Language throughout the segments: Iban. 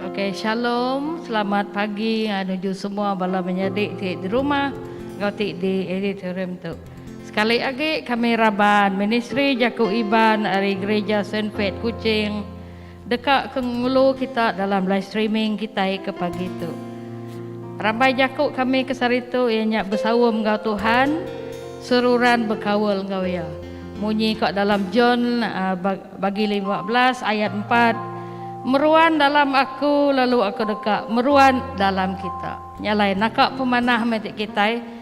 Okey shalom selamat pagi ah, nuju semua bala menyadi ti di rumah enggau ti di auditorium tu. Sekali agi kami raban ministri jaku Iban ari Gereja Saint Pat Kuching Deka ke ngulu kita dalam live streaming kitai ke pagi tu. Rambai jaku kami ke sehari tu iya nya besaum enggau Tuhan, seruran bekaul enggau Iya. Munyi ka dalam John bagi lima belas ayat empat, Meruan dalam Aku lalu Aku deka meruan dalam kita. Nya alai naka pemanah meh ti kitai.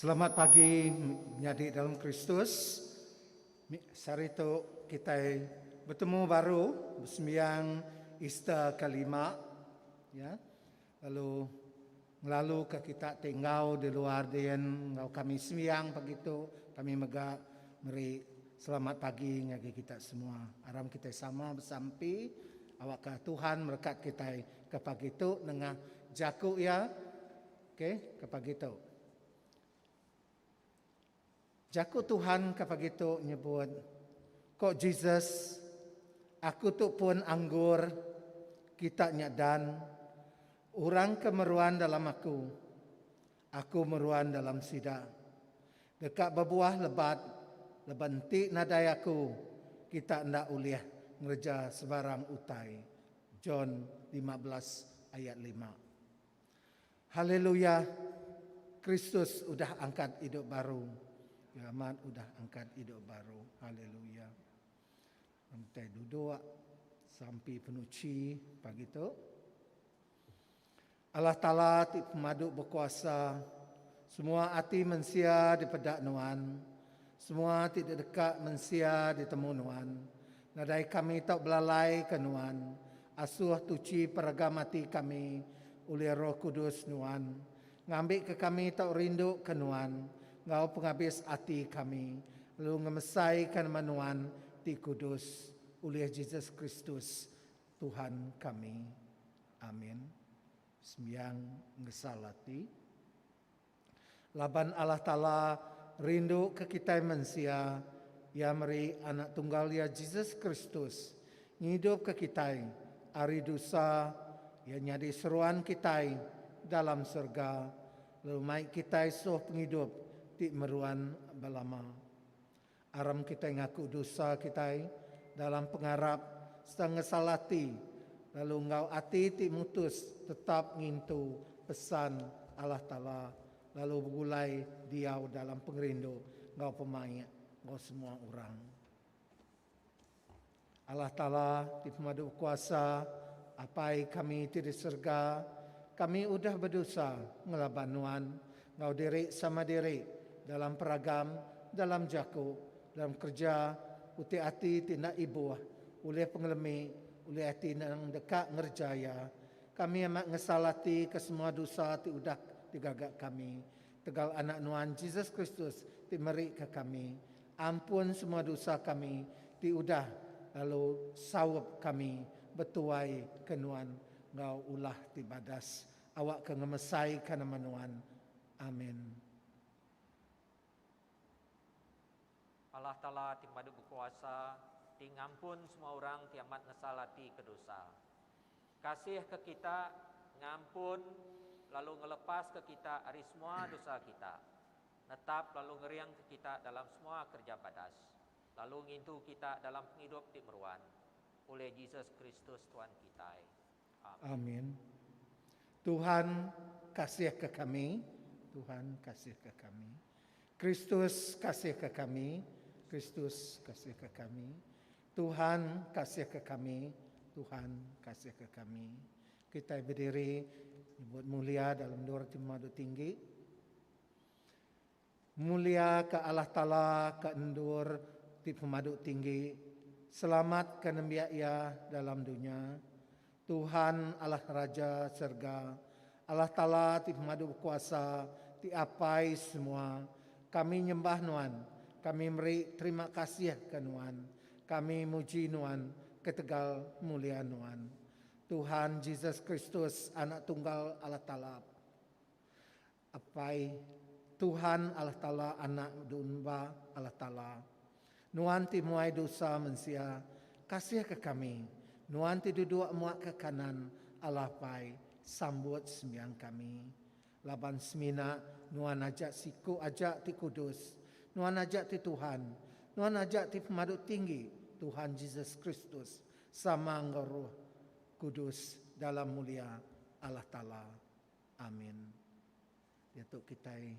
Selamat pagi menyadi dalam Kristus. Sehari tu kitai betemu baru besembiang Easter ke lima ya. Lalu ngelalu ke kita ti enggau di luar din enggau kami sembiang pagi tu kami mega meri selamat pagi ngagai kita semua. Aram kitai sama besampi awakka Tuhan merekat kitai. Ke pagi tu nengah jaku iya ke ke pagi tu. Jaku Tuhan ke pagi tu nyebut ko Jesus aku tu pun anggur kita nya dan orang ke meruan dalam aku Aku meruan dalam sida. Deka bebuah lebat laban enti nadai aku kita enda ulih ngereja sebarang utai. John lima belas ayat lima. Haleluya! Kristus udah angkat idup baru. Iya amat udah angkat idup baru. Haleluya! Entai duduk sampi penuchi pagi tu. Allah Taala ti pemadu bekuasa, semua ati mensia dipeda Nuan, semua ti dideka mensia ditemu Nuan. Nadai kami tau belalaika Nuan, asuh tuchi peragam ati kami ulih Roh Kudus Nuan, ngambika kami tau rinduka Nuan enggau pengabis ati kami, lalu ngemesaika nama Nuan ti kudus, ulih Jesus Kristus. Tuhan kami. Amin. Sembiang ngesal ati. Laban Allah Taala rindu ke kitai mensia, Iya meri Anak Tunggal Iya Jesus Kristus ngidupka kitai ari dusa, Iya nyadi seruan kitai dalam serega lalu mai kitai suh pengidup ti meruan belama. Aram kitai ngaku dosa kitai dalam pengarap sereta ngesal ati lalu enggau ati ti mutus tetap ngintu pesan Allah Taala lalu begulai diau dalam pengerindu enggau pemaik enggau semua orang. Allah Taala ti pemadu kuasa, Apai kami ti di serega, kami udah bedusa ngelaban Nuan enggau diri sama diri dalam peragam, dalam jaku, dalam kereja, uti ati ti enda ibuh, ulih pengelemi, ulih ati nang deka ngereja iya. Kami amat ngesal ati ke semua dusa ti udah digaga kami. Tegal Anak Nuan Jesus Kristus ti meri ke kami ampun semua dosa kami ti udah lalu saup kami betuai ke Nuan enggau ulah ti badas awak ke ngemesai ka nama Nuan. Amen. Allah Taala ti pemadu bekuasa, ti ngampun semua orang ti amat nesal ati ke dosa. Kasih ke kita, ngampun, lalu ngelepas ke kita ari semua dosa kita, netap lalu ngering ke kita dalam semua kerja badas, lalu ngintu kita dalam pengidup ti meruan, ulih Jesus Kristus Tuan kitai. Amin. Tuhan kasihka kami. Tuhan kasihka kami. Kristus kasihka kami. Kristus kasihka kami. Tuhan kasihka kami. Tuhan kasihka kami. Kitai bediri nyebut mulia dalam dua roti madu tinggi. Muliaka Allah Taala ke endur ti pemadu tinggi, selamatka nembiak Iya dalam dunya. Tuhan Allah Raja serega, Allah Taala ti pemadu bekuasa, ti apai semua, kami nyembah Nuan, kami meri terima kasih ke Nuan, kami muji Nuan ketegal mulia Nuan. Tuhan Jesus Kristus Anak Tunggal Allah Taala. Apai, Tuhan Allah Taala anak dunba Allah Taala. Nuan ti muai dosa mensia, kasihka kami. Nuan ti duduk muak ke kanan Allah Pai, sambut sembiang kami. Laban semina Nuan aja siku aja ti kudus, Nuan aja ti Tuhan, Nuan aja ti Pemadu Tinggi Tuhan Jesus Kristus sama enggau Roh Kudus dalam mulia Allah Taala. Amin. Diatu kitai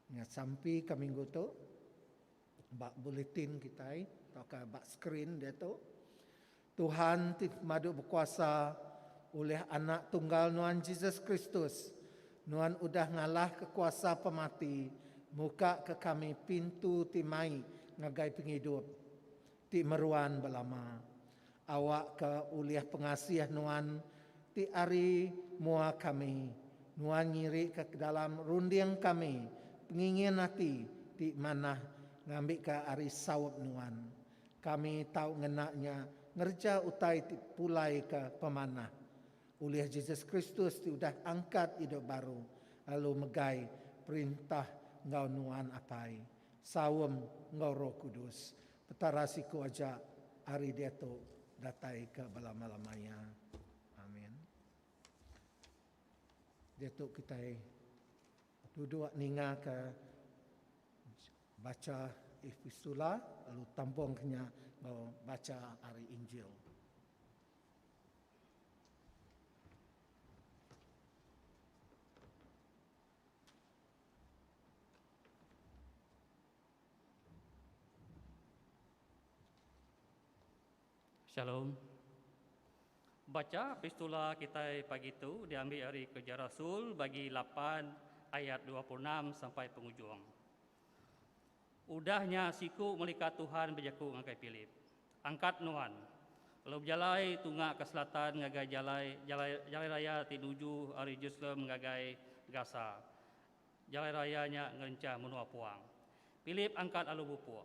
nya sampi ka minggu tu ba bulletin kitai tauka ba screen diatu. Tuhan ti pemadu bekuasa ulih Anak Tunggal Nuan Jesus Kristus, Nuan udah ngalahka kuasa pemati, mukaka kami pintu ti mai ngagai pengidup. Ti meruan belama. Awak ka ulih pengasih nuan ti ari mua kami. Nuan ngiri ka kedalam runding kami pengingin ati ti manah ngambi ka ari saup nuan. Kami tau ngena nya ngereja utai ti pulai ka pemanah. Ulih Jesus Kristus ti udah angkat idup baru lalu megai perintah enggau nuan apai. Saum enggau Roh Kudus. Petara siku aja ari diatu datai ke belama-lamaya. Amin. Diatu kitai duduk ninga ke bacha epistula lalu tambung ke nya enggau bacha ari injil. Shalom. Bacha pistula kitai pagi tu diambi ari Kerja Rasul bagi lapan ayat dua puluh enam sampai pengujung. Udah nya siku melika Tuhan bejaku ngagai Pilip, Angkat nuan, lalu bejalai tunga ke selatan ngagai jalai jalai jalai raya ti nuju ari Jerusalem ngagai Gasa. Jalai raya nya ngerinchah menua puang. Pilip angkat lalu bepuk.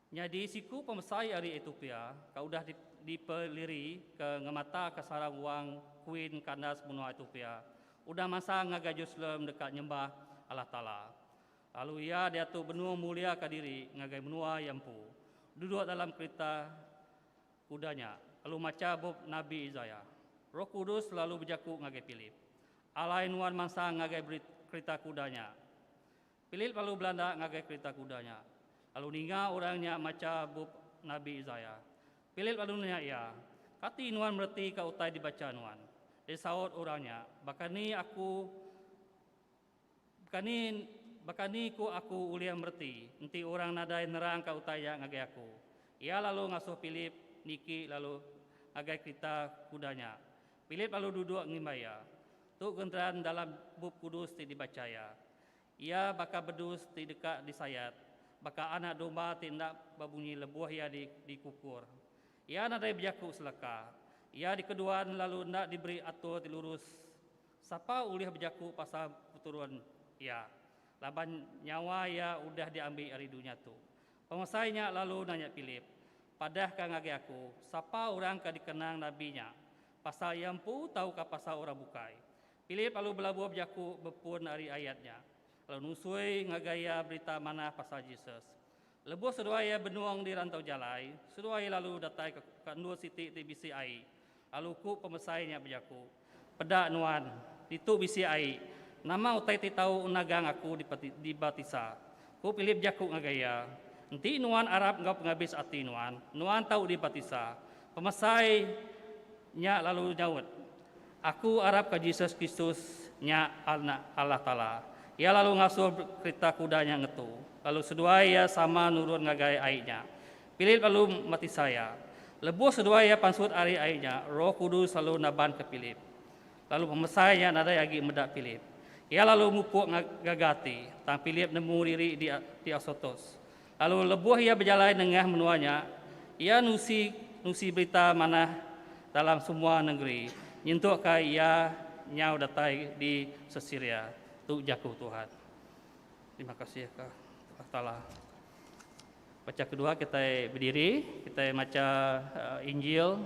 Nyadi siku pemesai ari Ethiopia ka udah dipeliri ke ngemata ka sarang wang kuin kandas menua Ethiopia udah masang ngagai Jerusalem deka nyembah Allah Taala. Lalu iya diatu benung mulia ka diri ngagai menua iya empu. Duduk dalam kerita kuda nya, lalu macha bup nabi Isaiah. Roh Kudus lalu bejaku ngagai Philip, Alai nuan mansang ngagai kerita kuda nya. Pilip lalu belanda ngagai kerita kuda nya, lalu ninga orang nya macha bup Nabi Isaiah. Pilip lalu nanya iya, Kati nuan meretika utai dibacha nuan? Disaut orang nya, Baka ni aku baka ni baka ni ku aku ulih mereti enti orang nadai nerangka utai nya ngagai aku? Iya lalu ngasuh Pilip niki lalu ngagai kerita kuda nya. Pilip lalu duduk ngimbai iya. Tu genteran dalam Bup Kudus ti dibacha iya. Iya baka bedus ti deka disayat, baka anak domba ti enda bebunyi lebuh iya dikukur. Iya nadai bejaku selaka. Iya dikeduan lalu enda diberi atur ti lurus. Sapa ulih bejaku pasal peturun iya? Laban nyawa iya udah diambi ari dunya tu. Pemesai nya lalu nanya Pilip, Padah ka ngagai aku, sapa orang ke dikenang nabi nya? Pasal iya empu tauka pasal orang bukai? Philip lalu belabuh bejaku bepun ari ayat nya, lalu nusui ngagai iya berita manah pasal Jesus. Lebuh seduai iya benung di rantau jalai, seduai iya lalu datai ka ka endur siti ti bisi ai, lalu ku pemesai nya bejaku, Peda, Nuan, ditu bisi ai. Nama utai ti tau nagang aku dipati dibaptisa? Ku Philip bejaku ngagai iya, Enti nuan arap enggau pengabis ati nuan, nuan tau dibaptisa. Pemesai nya lalu nyaut, Aku arapka Jesus Kristus nya Anak Allah Taala. Iya lalu ngasuh kerita kuda nya ngetu, lalu seduai iya sama nurun ngagai ai nya. Pilip lalu mbatisa iya. Lebuh seduai iya pansut ari ai nya, Roh Kudus lalu nabanka Pilip. Lalu pemesai nya nadai agi meda Pilip. Iya lalu mupuk ngagai ati, tang Pilip nemu diri di Asotos. Lalu lebuh iya bejalai nengah menua nya, iya nusi nusi berita manah dalam semua nengeri nyentuk ka iya nyau datai di Sesiria. Tu jaku Tuhan. Terima kasih ka Allah Taala. Baca kedua kitai bediri, kitai macha Injil.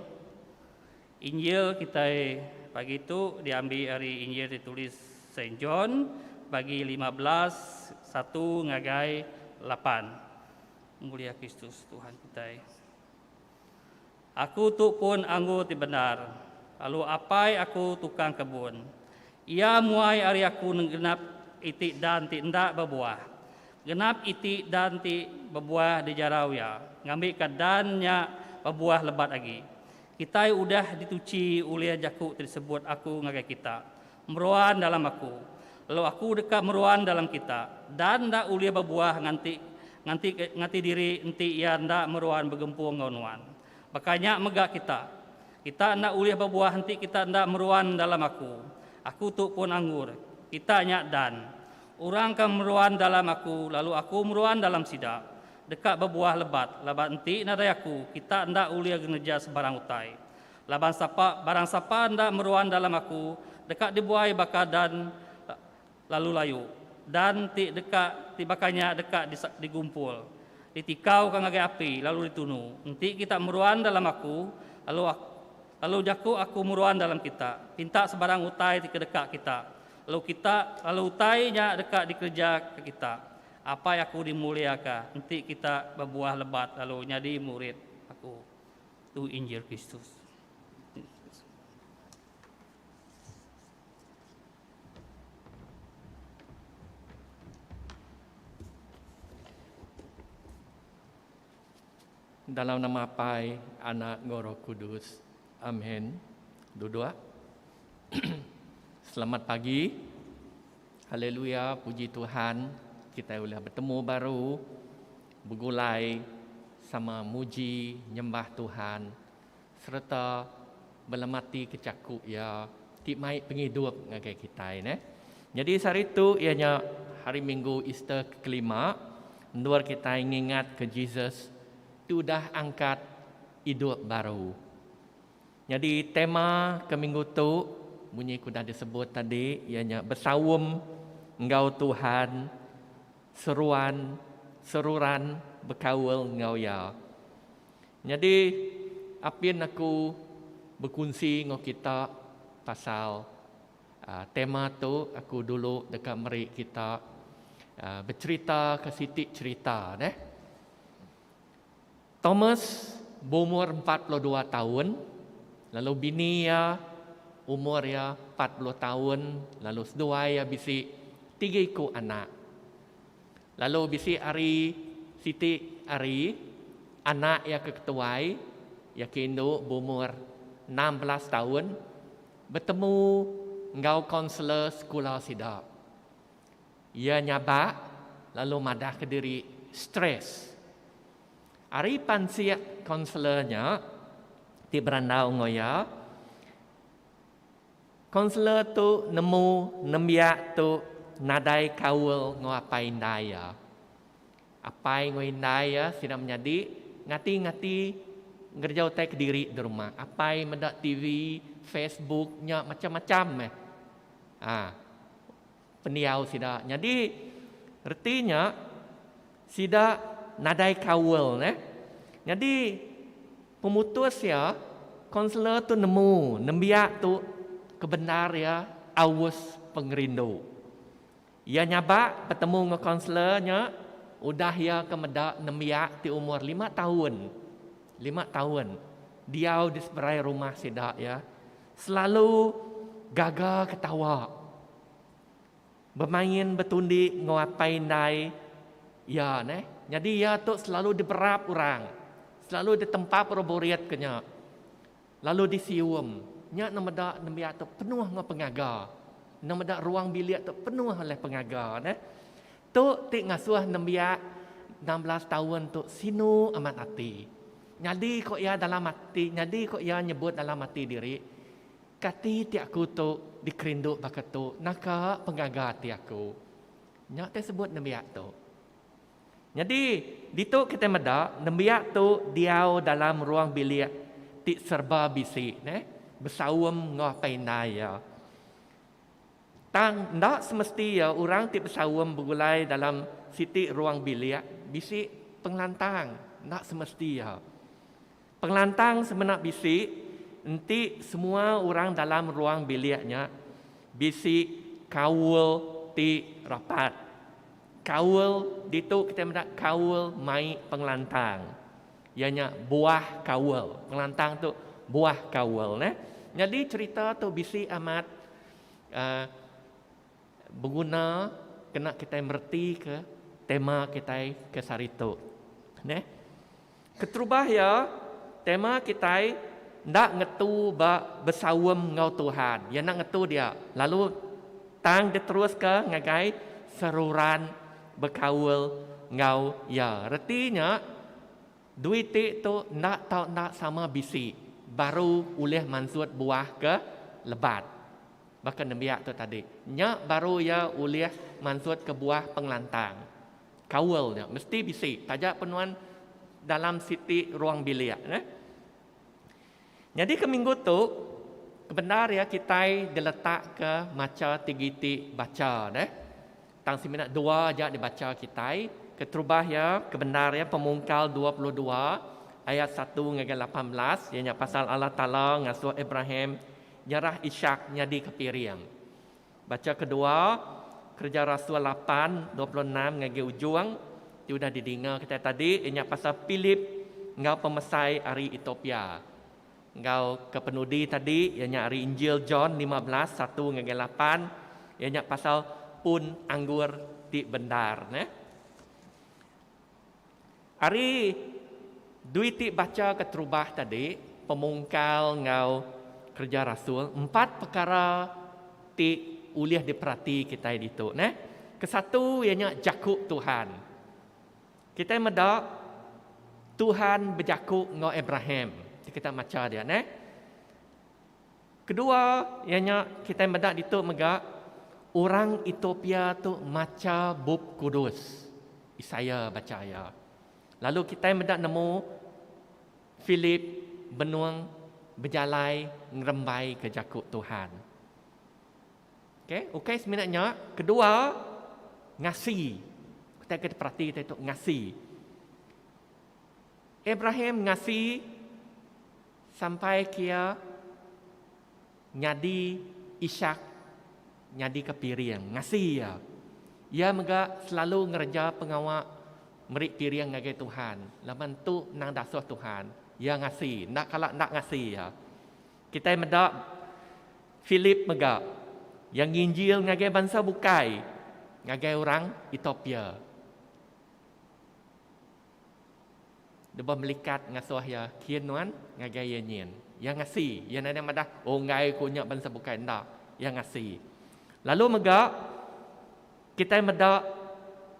Injil kitai pagi tu diambi ari Injil ti ditulis Saint John bagi lima belas satu ngagai lapan. Mulia Kristus Tuhan kitai. Aku tu pun anggur ti bendar, lalu Apai aku tukang kebun. Iya muai ari aku genap iti dan ti enda bebuah. Genap iti dan ti bebuah dijarau iya, ngambika dan nya bebuah lebat agi. Kitai udah dituchi ulih jaku ti disebut Aku ngagai kita, Meruan dalam Aku, lalu Aku deka meruan dalam kita. Dan enda ulih bebuah nganti nganti ngati diri enti Iya enda meruan begempung enggau nuan. Baka nya mega kita. Kita enda ulih bebuah enti kita enda meruan dalam Aku. Aku tu pun anggur. Kita nya dan. Orang ke meruan dalam Aku, lalu Aku meruan dalam sida, Deka bebuah lebat laban enti nadai aku kita enda ulih ngereja sebarang utai. Laban sapa barang sapa enda meruan dalam aku deka dibuai baka dan lalu layu. Dan ti deka ti baka nya deka digumpul, ditikauka ngagai api lalu ditunu. Enti kita meruan dalam aku lalu lalu jaku aku meruan dalam kita, pinta sebarang utai ti kedeka kita, lalu kita lalu utai nya deka dikereja ke kita. Apai aku dimuliaka enti kita bebuah lebat lalu nyadi murid Aku. Tu Injil Kristus. Dalam nama Apai, Anak enggau Roh Kudus. Amen. Duduk. Selamat pagi. Haleluya, puji Tuhan kitai ulih betemu baru begulai sama muji nyembah Tuhan sereta belematika jaku Iya ti mai pengidup ngagai kitai neh. Nyadi sehari tu iya nya Hari Minggu Easter ke kelima, endur kitai ngingatka Jesus ti udah angkat idup baru. Nyadi tema ke minggu tu munyi ku udah disebut tadi iya nya besaum enggau Tuhan, seruan seruran bekaul enggau iya. Nyadi apin aku bekunsi enggau kita pasal tema tu aku dulu deka meri kita becherita ke siti cherita neh. Thomas beumur empat puluh dua taun lalu bini iya umur iya empat puluh taun lalu seduai iya bisi tiga iku anak. Lalu bisi ari siti ari anak iya ke ketuai iya ke indu beumur enam belas taun betemu enggau kaunselor sekula sida. Iya nyabak lalu madahka diri stres. Ari pansik kaunselor nya ti berandau enggau iya, kaunselor tu nemu nembiak tu nadai kaul enggau apai indai iya. Apai enggau indai iya sida menyadi ngati-ngati ngereja utai kediri di rumah. Apai meda tv, facebook nya macam-macam meh. A. Pendiau sida. Nyadi reti nya sida nadai kaul neh. Nyadi pemutus iya kaunselor tu nemu nembiak tu kebendar iya aus pengerindu. Iya nyabak betemu enggau kaunselor nya udah iya ke meda nembiak ti umur lima taun, lima taun diau di seberai rumah sida iya. Selalu gaga ketawa. Bemain betundi enggau apai indai iya neh. Nyadi iya tu selalu diberap orang. Selalu ditempap orang burit ke nya. Lalu disium. Nya ne meda nembiak tu penuh enggau pengaga. Ne meda ruang bilik tu penuh oleh pengaga neh. Tu ti ngasuh nembiak enam belas taun tu sinu amat ati. Nyadi ko iya dalam ati nyadi ko iya nyebut dalam ati diri, Kati ti aku tu dikerindu baka tu naka pengaga ati aku. Nya te sebut nembiak tu. Nyadi ditu kitai meda nembiak tu diau dalam ruang bilik ti serba bisi neh besaum enggau apai indai iya. Tang enda semesti iya orang ti besaum begulai dalam siti ruang bilik bisi pengelantang, enda semesti iya. Pengelantang semena bisi enti semua orang dalam ruang bilik nya bisi kaul ti rapat. Kaul ditu kitai meda kaul mai pengelantang. Iya nya buah kaul. Pengelantang tu buah kaul neh. Nyadi cherita tu bisi amat aaa beguna kena kitai meretika tema kitai ke sehari tu. Neh. Keterubah iya tema kitai enda ngetu ba besaum enggau Tuhan. Iya enda ngetu dia lalu tang diteruska ngagai seruran. bekaul enggau iya. Reti nya, dui ti tu enda tau enda sama bisi baru ulih mansut buah ke lebat. Baka nembiak tu tadi, nya baru iya ulih mansut ke buah pengelantang. Kaul nya mesti bisi taja pe nuan dalam siti ruang bilik. Nyadika minggu tu kebendar iya kitai diletakka macha tigiti bacha deh. Tang semina dua aja dibacha kitai. Keterubah iya kebendar iya Pemungkal dua puluh dua ayat satu ngagai lapan belas iya nya pasal Allah Taala ngasuh Abraham nyerah Ishak nyadika piring. Bacha kedua, Kereja Rasul lapan, dua puluh enam ngagai ujung, ti udah didinga kitai tadi, iya nya pasal Philip enggau pemesai ari Ethiopia. Enggau ke penudi tadi, iya nya ari Injil John lima belas, satu ngagai lapan, iya nya pasal pun anggur ti bendar. Neh. Ari dui ti bacha keterubah tadi, pemungkal enggau Kereja Rasul, empat pekara ti ulih diperati kitai ditu neh. Kesatu iya nya jaku Tuhan. Kitai meda Tuhan bejaku enggau Abraham ti kitai macha dia neh. Kedua iya nya kitai meda ditu mega orang Ethiopia tu macha Bup Kudus. Isaiah bacha iya. Lalu kitai meda nemu Philip benung bejalai ngerembaika jaku Tuhan. Okay, ukai semina nya, kedua ngasi. Kitai ke diperati kitai tu ngasi. Abraham ngasi Sampai kia nyadi Ishak nyadika piring ngasi iya. Iya mega selalu ngereja pengawa meri piring ngagai Tuhan laban tu endang dasuh Tuhan iya ngasi enda kala enda ngasi iya. Kitai meda Philip mega iya nginjil ngagai bansa bukai ngagai orang Ethiopia. Lebuh melikat ngasuh iya, kin nuan ngagai iya nyin? Iya ngasi. Iya nadai madah, Unggai ku nya bansa bukai enda. Iya ngasi. Lalu mega kitai meda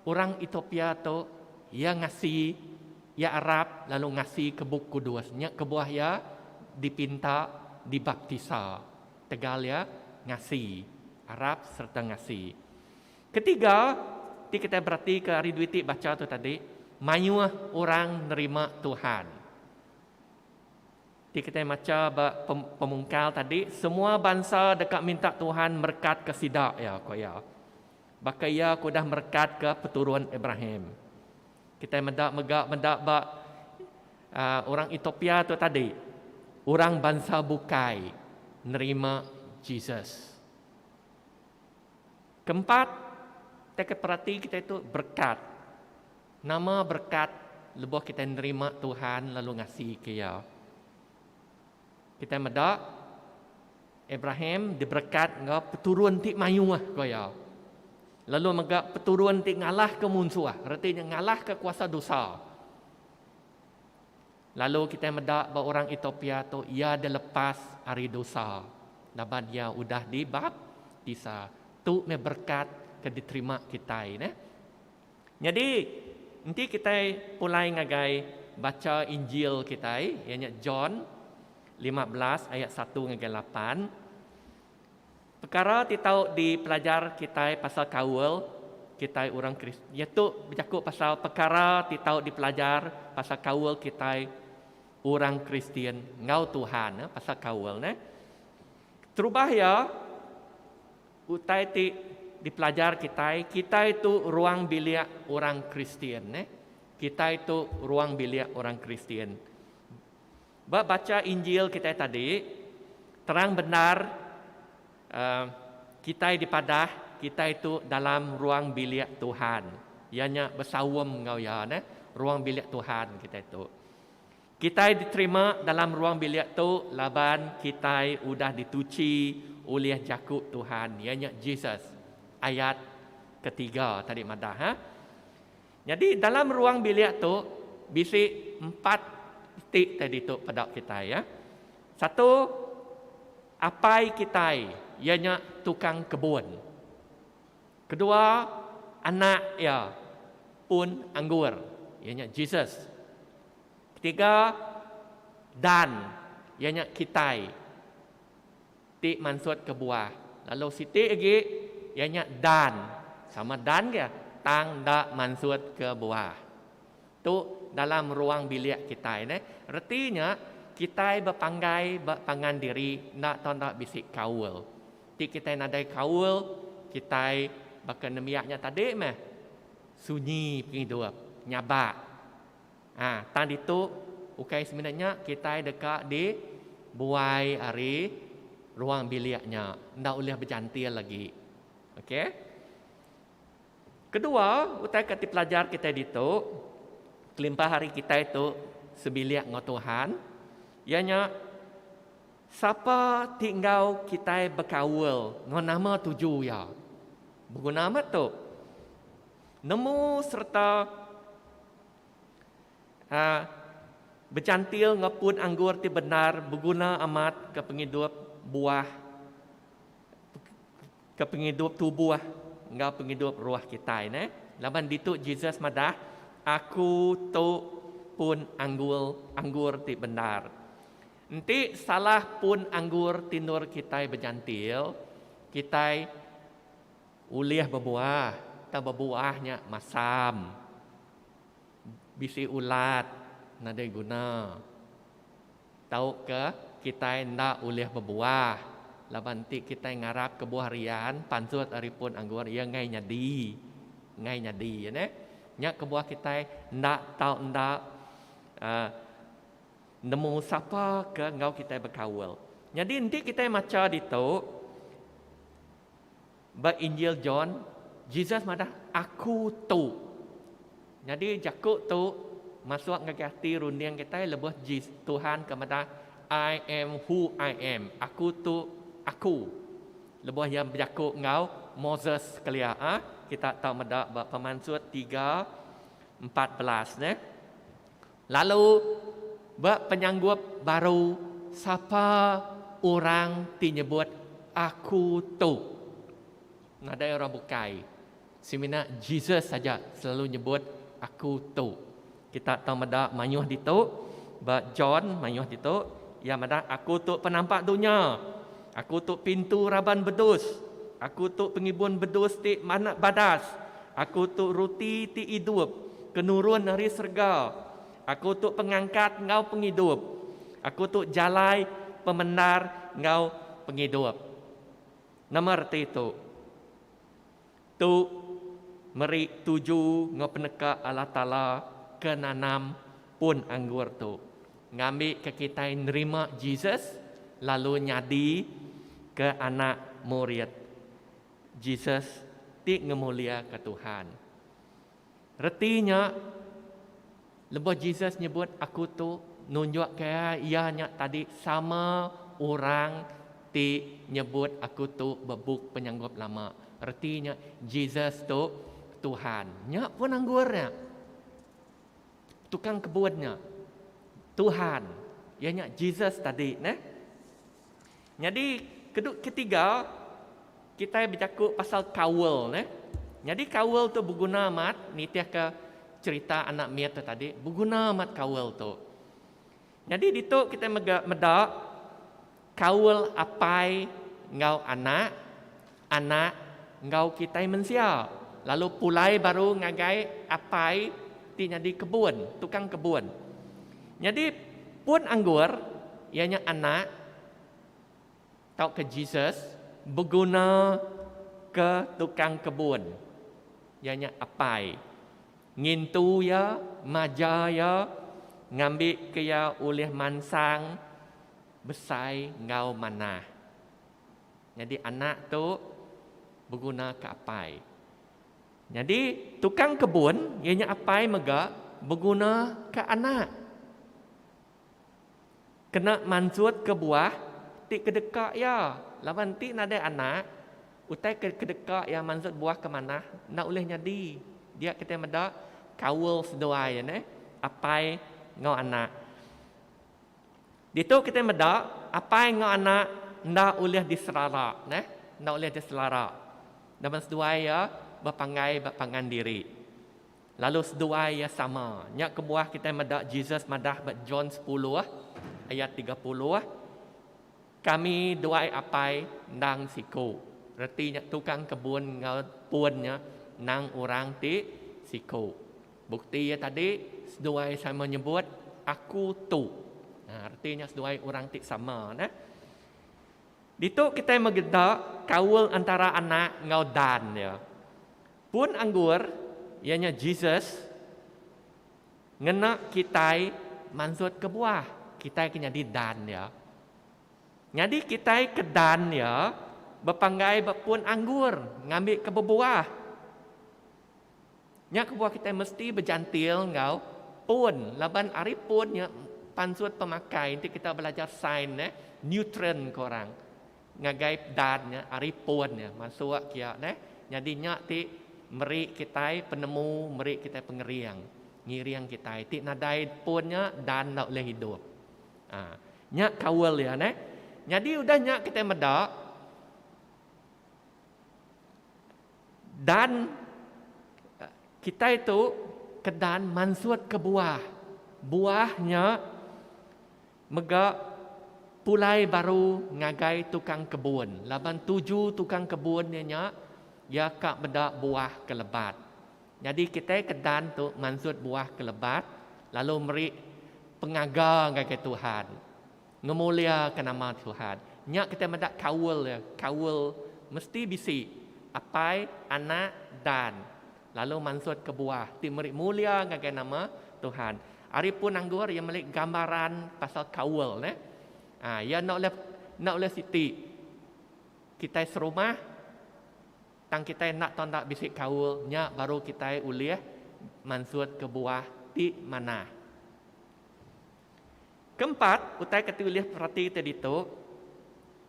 orang Ethiopia tu iya ngasi, iya arap lalu ngasi ke Bup Kudus. Nya kebuah iya dipinta dibaptisa. Tegal iya ngasi, arap sereta ngasi. Ketiga, ti kitai beratika ari dua iti bacha tu tadi, mayuh orang nerima Tuhan. Ti kitai macha ba pemungkal tadi, semua bansa deka minta Tuhan merekatka sida, iya ku iya. Baka Iya ke udah merekatka peturun Abraham. Kitai meda mega meda ba orang Ethiopia tu tadi, orang bansa bukai nerima Jesus. Keempat, teka perati kitai tu berekat. Nama berekat lebuh kitai nerima Tuhan lalu ngasika Iya? Kitai meda Abraham diberekat enggau peturun ti mayuh, ku iya. Lalu mega peturun ti ngalahka munsuh, reti nya ngalahka kuasa dosa. Lalu kitai meda ba orang Etiopia tu iya dilepas ari dosa laban iya udah dibaptisa. Tu meh berekat ke diterima kitai neh. Nyadi, enti kitai pulai ngagai bacha Injil kitai, iya nya John lima belas ayat satu ngagai lapan, Pekara ti tau dipelajar kitai pasal kaul kitai orang Kristian iya tu bejaku pasal pekara ti tau dipelajar pasal kaul kitai orang Kristian enggau Tuhan pasal kaul neh. Terubah iya utai ti dipelajar kitai, kitai tu ruang bilik orang Kristian neh. Kitai tu ruang bilik orang Kristian. Ba bacha Injil kitai tadi, terang bendar kitai dipadah kitai tu dalam ruang bilik Tuhan, iya nya besaum enggau Iya neh, ruang bilik Tuhan kitai tu. Kitai diterima dalam ruang bilik tu laban kitai udah dituchi ulih Jaku Tuhan, iya nya Jesus. Ayat ketiga tadi madah. Nyadi dalam ruang bilik tu bisi empat enti teh ditu peda kitai iya. Satu apai kitai iya nya tukang kebun. Kedua anak iya pun anggur iya nya Jesus. Ketiga Dan iya nya kitai. ti mansut kebuah, lalu siti agi iya nya dan sama dan dia tang enda mansut ke buah. Tu dalam ruang bilik kitai neh reti nya kitai bepanggai ba pangan diri enda tau enda bisi kaul. Ti kitai nadai kaul kitai baka nembiak nya tadi meh sunyi pengidup nyabak. Ha, tang ditu ukai semina nya kitai deka di buai ari ruang bilik nya enda ulih bejantil agi. Okey. Kedua, utai ka dipelajar kitai ditu kelimpah ari kitai tu sebilik enggau Tuhan iya nya sapa ti enggau kitai bekaul enggau nama tuju iya. Beguna amat tu. Nemu sereta. A. Becantil enggau pun anggur ti bendar beguna amat ke pengidup buah ke pengidup tubuh enggau pengidup roh kitai ne. Laban ditu Jesus madah, Aku tu pun anggul anggur ti bendar. Enti salah pun anggur ti endur kitai bejantil, kitai. Ulih bebuah, tang bebuah nya masam. Bisi ulat nadai guna. Tauka kitai enda ulih bebuah laban enti kitai ngarap ke buah rian pansut ari pun anggur iya ngai nyadi. Ngai nyadi neh. Nya kebuah kitai enda tau enda uhh nemu sapa ke enggau kitai bekaul. Nyadi enti kitai macha ditu. Ba Injil John, Jesus madah, Aku tu. Nyadi jaku tu masuk ngagai ati runding kitai lebuh Tuhan ke madah, I am who I am. Aku tu Aku. Lebuh Iya bejaku enggau Moses kelia. Kita tau meda ba Pemansut tiga empat belas. Lalu, ba penyanggup baru, sapa orang ti nyebut Aku tu? Nadai orang bukai. Semina Jesus aja selalu nyebut Aku tu. Kita tau meda mayuh ditu, ba John mayuh ditu, iya madah, Aku tu penampak dunya. Aku tu pintu raban bedus. Aku tu pengibun bedus ti badas. Aku tu ruti ti idup ke nurun ari serega. Aku tu pengangkat enggau pengidup. Aku tu jalai, pemendar enggau pengidup. Nama reti tu? Tu meri tuju enggau peneka Allah Taala ke nanam pun anggur tu ngambika kitai nerima Jesus lalu nyadi ke anak murid. Jesus ti ngemuliaka Tuhan. Reti nya, lebuh Jesus nyebut aku tu nunjukka iya nya tadi sama orang ti nyebut aku tu bebuk penyanggup lama. Reti nya Jesus tu Tuhan. Nya pun anggur nya. Tukang kebun nya Tuhan. Iya nya Jesus tadi neh. Nyadi kedut ketiga kitai bejaku pasal kaul neh. Nyadi kaul tu beguna amat nitihka cherita anak mit tu tadi beguna amat kaul tu. Nyadi ditu kitai mega meda kaul apai enggau anak. Anak enggau kitai mensia lalu pulai baru ngagai apai ti nyadi kebun, tukang kebun. Nyadi pun anggur, iya nya Anak tauka Jesus, beguna ke tukang kebun, iya nya apai, ngintu iya, maja iya ngambika iya ulih mansang besai enggau manah. Nyadi anak tu beguna ke apai. Nyadi tukang kebun iya nya apai mega beguna ke anak. Kena mansut ke buah ti kedeka iya laban enti nadai anak utai ke kedeka iya mansut buah ke manah enda ulih nyadi. Dia kitai meda kaul seduai neh apai enggau anak. Ditu kitai meda apai enggau anak enda ulih diserara neh enda ulih diselara laban seduai iya bepanggai ba pangan diri lalu seduai iya sama nya kebuah kitai meda Jesus madah ba John sepuluh ayat tiga puluh kami duai apai endang siku reti nya tukang kebun enggau pun nya nang orang ti siku. Bukti iya tadi, seduai sama nyebut, Aku tu. Nah, reti nya seduai orang ti sama. Nah. Ditu kitai megeda kaul antara Anak enggau Dan iya. Pun anggur, iya nya Jesus, ngena kitai mansut ke buah. Kitai ke nyadi Dan iya. Nyadi kitai ke Dan iya bepanggai ba pun anggur ngambika bebuah. Nya kebuah kitai mesti bejantil enggau pun laban ari pun nya pansut pemakai enti kita belajar sains neh neutron ko orang ngagai dan nya ari pun nya masuk kia neh nyadi nya ti meri kitai penemu meri kitai pengering ngiring kitai ti nadai pun nya dan enda ulih idup aa nya kaul dia neh nyadi udah nya kitai meda. Dan kitai tu kedan mansutka buah. Buah nya mega pulai baru ngagai tukang kebun laban tuju tukang kebun iya nya iya ka meda buah ke lebat. Nyadi kitai kedan tu mansut buah ke lebat lalu meri pengaga ngagai Tuhan. Ngemuliaka nama Tuhan. Nya kitai meda kaul dia. Kaul mesti bisi Apai, Anak, Dan lalu mansut kebuah ti meri mulia ngagai nama Tuhan. Ari pun anggur iya meli gambaran pasal kaul neh. Aa iya enda ulih enda ulih siti kitai serumah tang kitai enda tau enda bisi kaul nya baru kitai ulih mansut kebuah ti manah. Keempat, utai ke tulih perati ti ditu,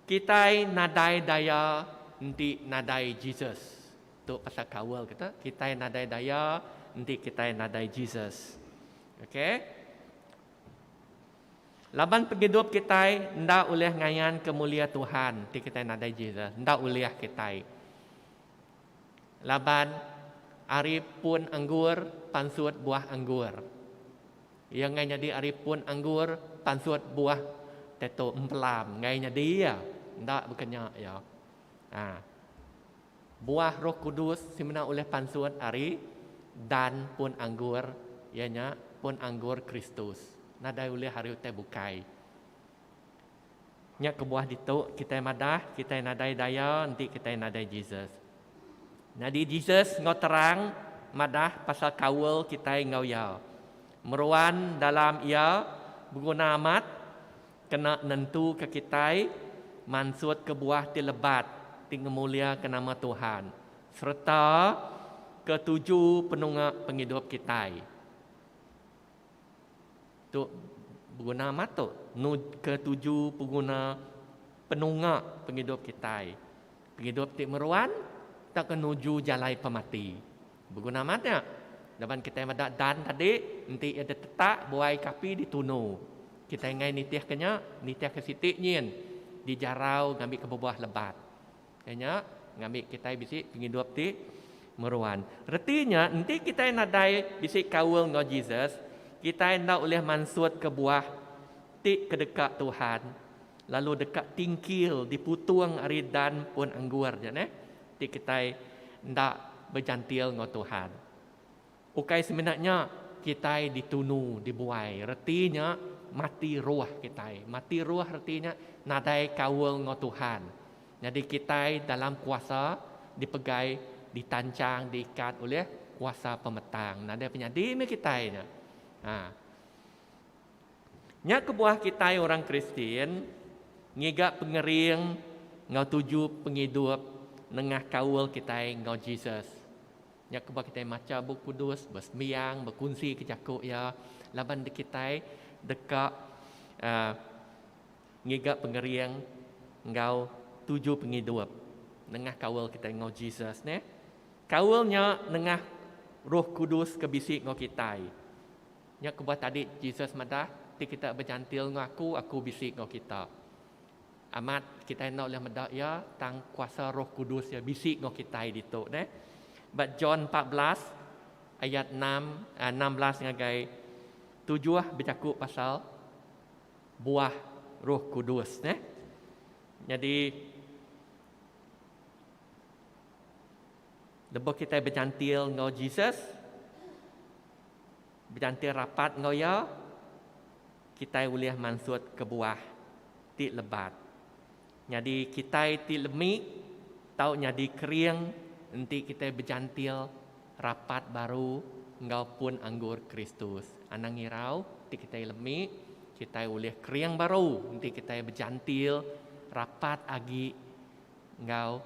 kitai nadai daya enti nadai Jesus. Tu pasal kaul kita, kitai nadai daya enti kitai nadai Jesus. Okay. Laban pengidup kitai enda ulih ngayanka mulia Tuhan enti kitai nadai Jesus. Enda ulih kitai. Laban ari pun anggur pansut buah anggur. Iya enggai nyadi ari pun anggur pansut buah teto empelam enggai nyadi iya enda baka nya iya. Ha. Buah Roh Kudus semina ulih pansut ari dan pun anggur iya nya pun anggur Kristus nadai ulih ari utai bukai. Nya kebuah ditu kitai madah kitai nadai daya enti kitai nadai Jesus. Nyadi Jesus enggau terang madah pasal kaul kitai enggau Iya. Meruan dalam Iya beguna amat kena nentuka kitai mansut kebuah ti lebat ti ngemuliaka nama Tuhan sereta ke tuju penunga pengidup kitai. Tu beguna amat tu ke tuju peguna penunga pengidup kitai. Pengidup ti meruan tauka nuju jalai pemati. Beguna amat nya laban kitai meda Dan tadi enti iya ditetak buai ke api ditunu. Kitai enggai nitihka nya, nitihka siti nyin dijarau ngambika bebuah lebat. Ke nya ngambi kitai bisi pengidup ti meruan. Reti nya enti kitai nadai bisi kaul enggau Jesus, kitai enda ulih mansut kebuah ti kedeka Tuhan lalu deka tingkil diputung ari dan pun anggur ja neh ti kitai enda bejantil enggau Tuhan. Ukai semina nya, kitai ditunu dibuai reti nya mati roh kitai. Mati roh reti nya nadai kaul enggau Tuhan. Nyadi kitai dalam kuasa dipegai ditanchang diikat ulih kuasa pemetang. Nadai penyadi meh kitai nya. Ha. Nya kebuah kitai orang Kristian ngiga pengering enggau tuju pengidup nengah kaul kitai enggau Jesus. Nya kebuah kitai macha Bup Kudus, besembiang, bekunsika jaku iya laban dikitai deka ngiga pengering enggau tuju pengidup nengah kaul kitai enggau Jesus neh. Kaul nya nengah Roh Kudus ke bisi enggau kitai. Nya kebuah tadi Jesus madah, Ti kitak bejantil enggau aku, aku bisi enggau kitak. Amat kitai enda ulih meda iya tang kuasa Roh Kudus iya bisi enggau kitai ditu neh. Ba John empat belas ayat enam, enam belas ngagai tujuh bejaku pasal buah Roh Kudus neh. Nyadi lebuh kitai benyantil enggau Jesus, Bejantin rapat enggau iya, kitai ulih mansut kebuah ti lebat. Nyadi kitai ti lemi tau nyadi kering enti kitai bejantin rapat baru enggau pun anggur Kristus. Anang ngirau enti kitai lemi, kitai ulih kering baru enti kitai bejantin rapat agi enggau.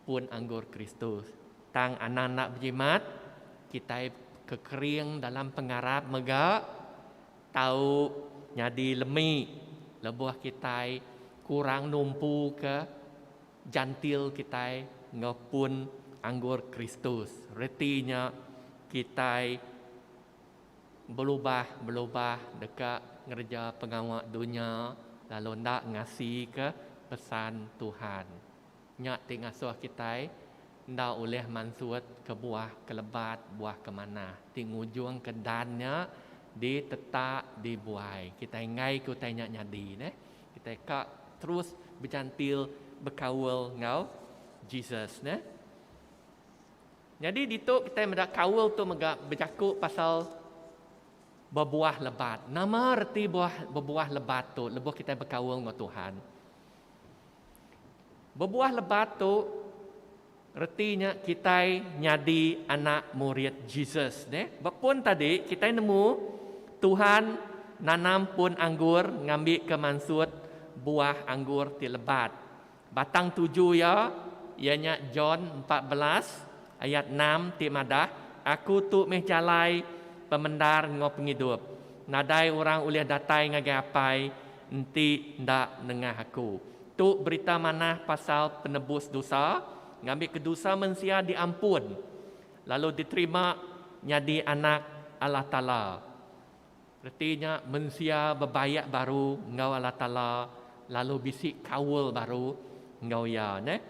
Pun anggur Kristus. Tang anang enda bejimat, kitai kekering dalam pengarap mega tau nyadi lemi lebuh kitai kurang numpuka Jantil kitai enggau pun anggur Kristus. Reti nya kitai belubah-belubah deka ngereja pengawa dunya lalu enda ngasika pesan Tuhan. Nya ti ngasuh kitai enda ulih mansut kebuah kelebat buah kemanah ti ngujungka dan nya ditetak dibuai. Kitai enggaika utai nya nyadi neh kitai ka terus bejantil bekaul enggau Jesus neh. Nyadi ditu kitai meda kaul tu mega bejaku pasal bebuah lebat. Nama reti buah bebuah lebat tu lebuh kitai bekaul enggau Tuhan? Bebuah lebat tu, reti nya kitai nyadi anak murid Jesus. Neh, ba pun tadi kitai nemu Tuhan nanam pun anggur ngambika mansut buah anggur ti lebat. Batang tuju iya, iya nya John empat belas ayat enam ti madah, Aku tu meh jalai, pemendar enggau pengidup. Nadai orang ulih datai ngagai Apai Enti enda nengah aku. Tu berita manah pasal penebus dosa, ngambika dosa mensia diampun lalu diterima nyadi anak Allah Taala. Reti nya mensia bebayak baru enggau Allah Taala lalu bisi kaul baru enggau Iya. Neh.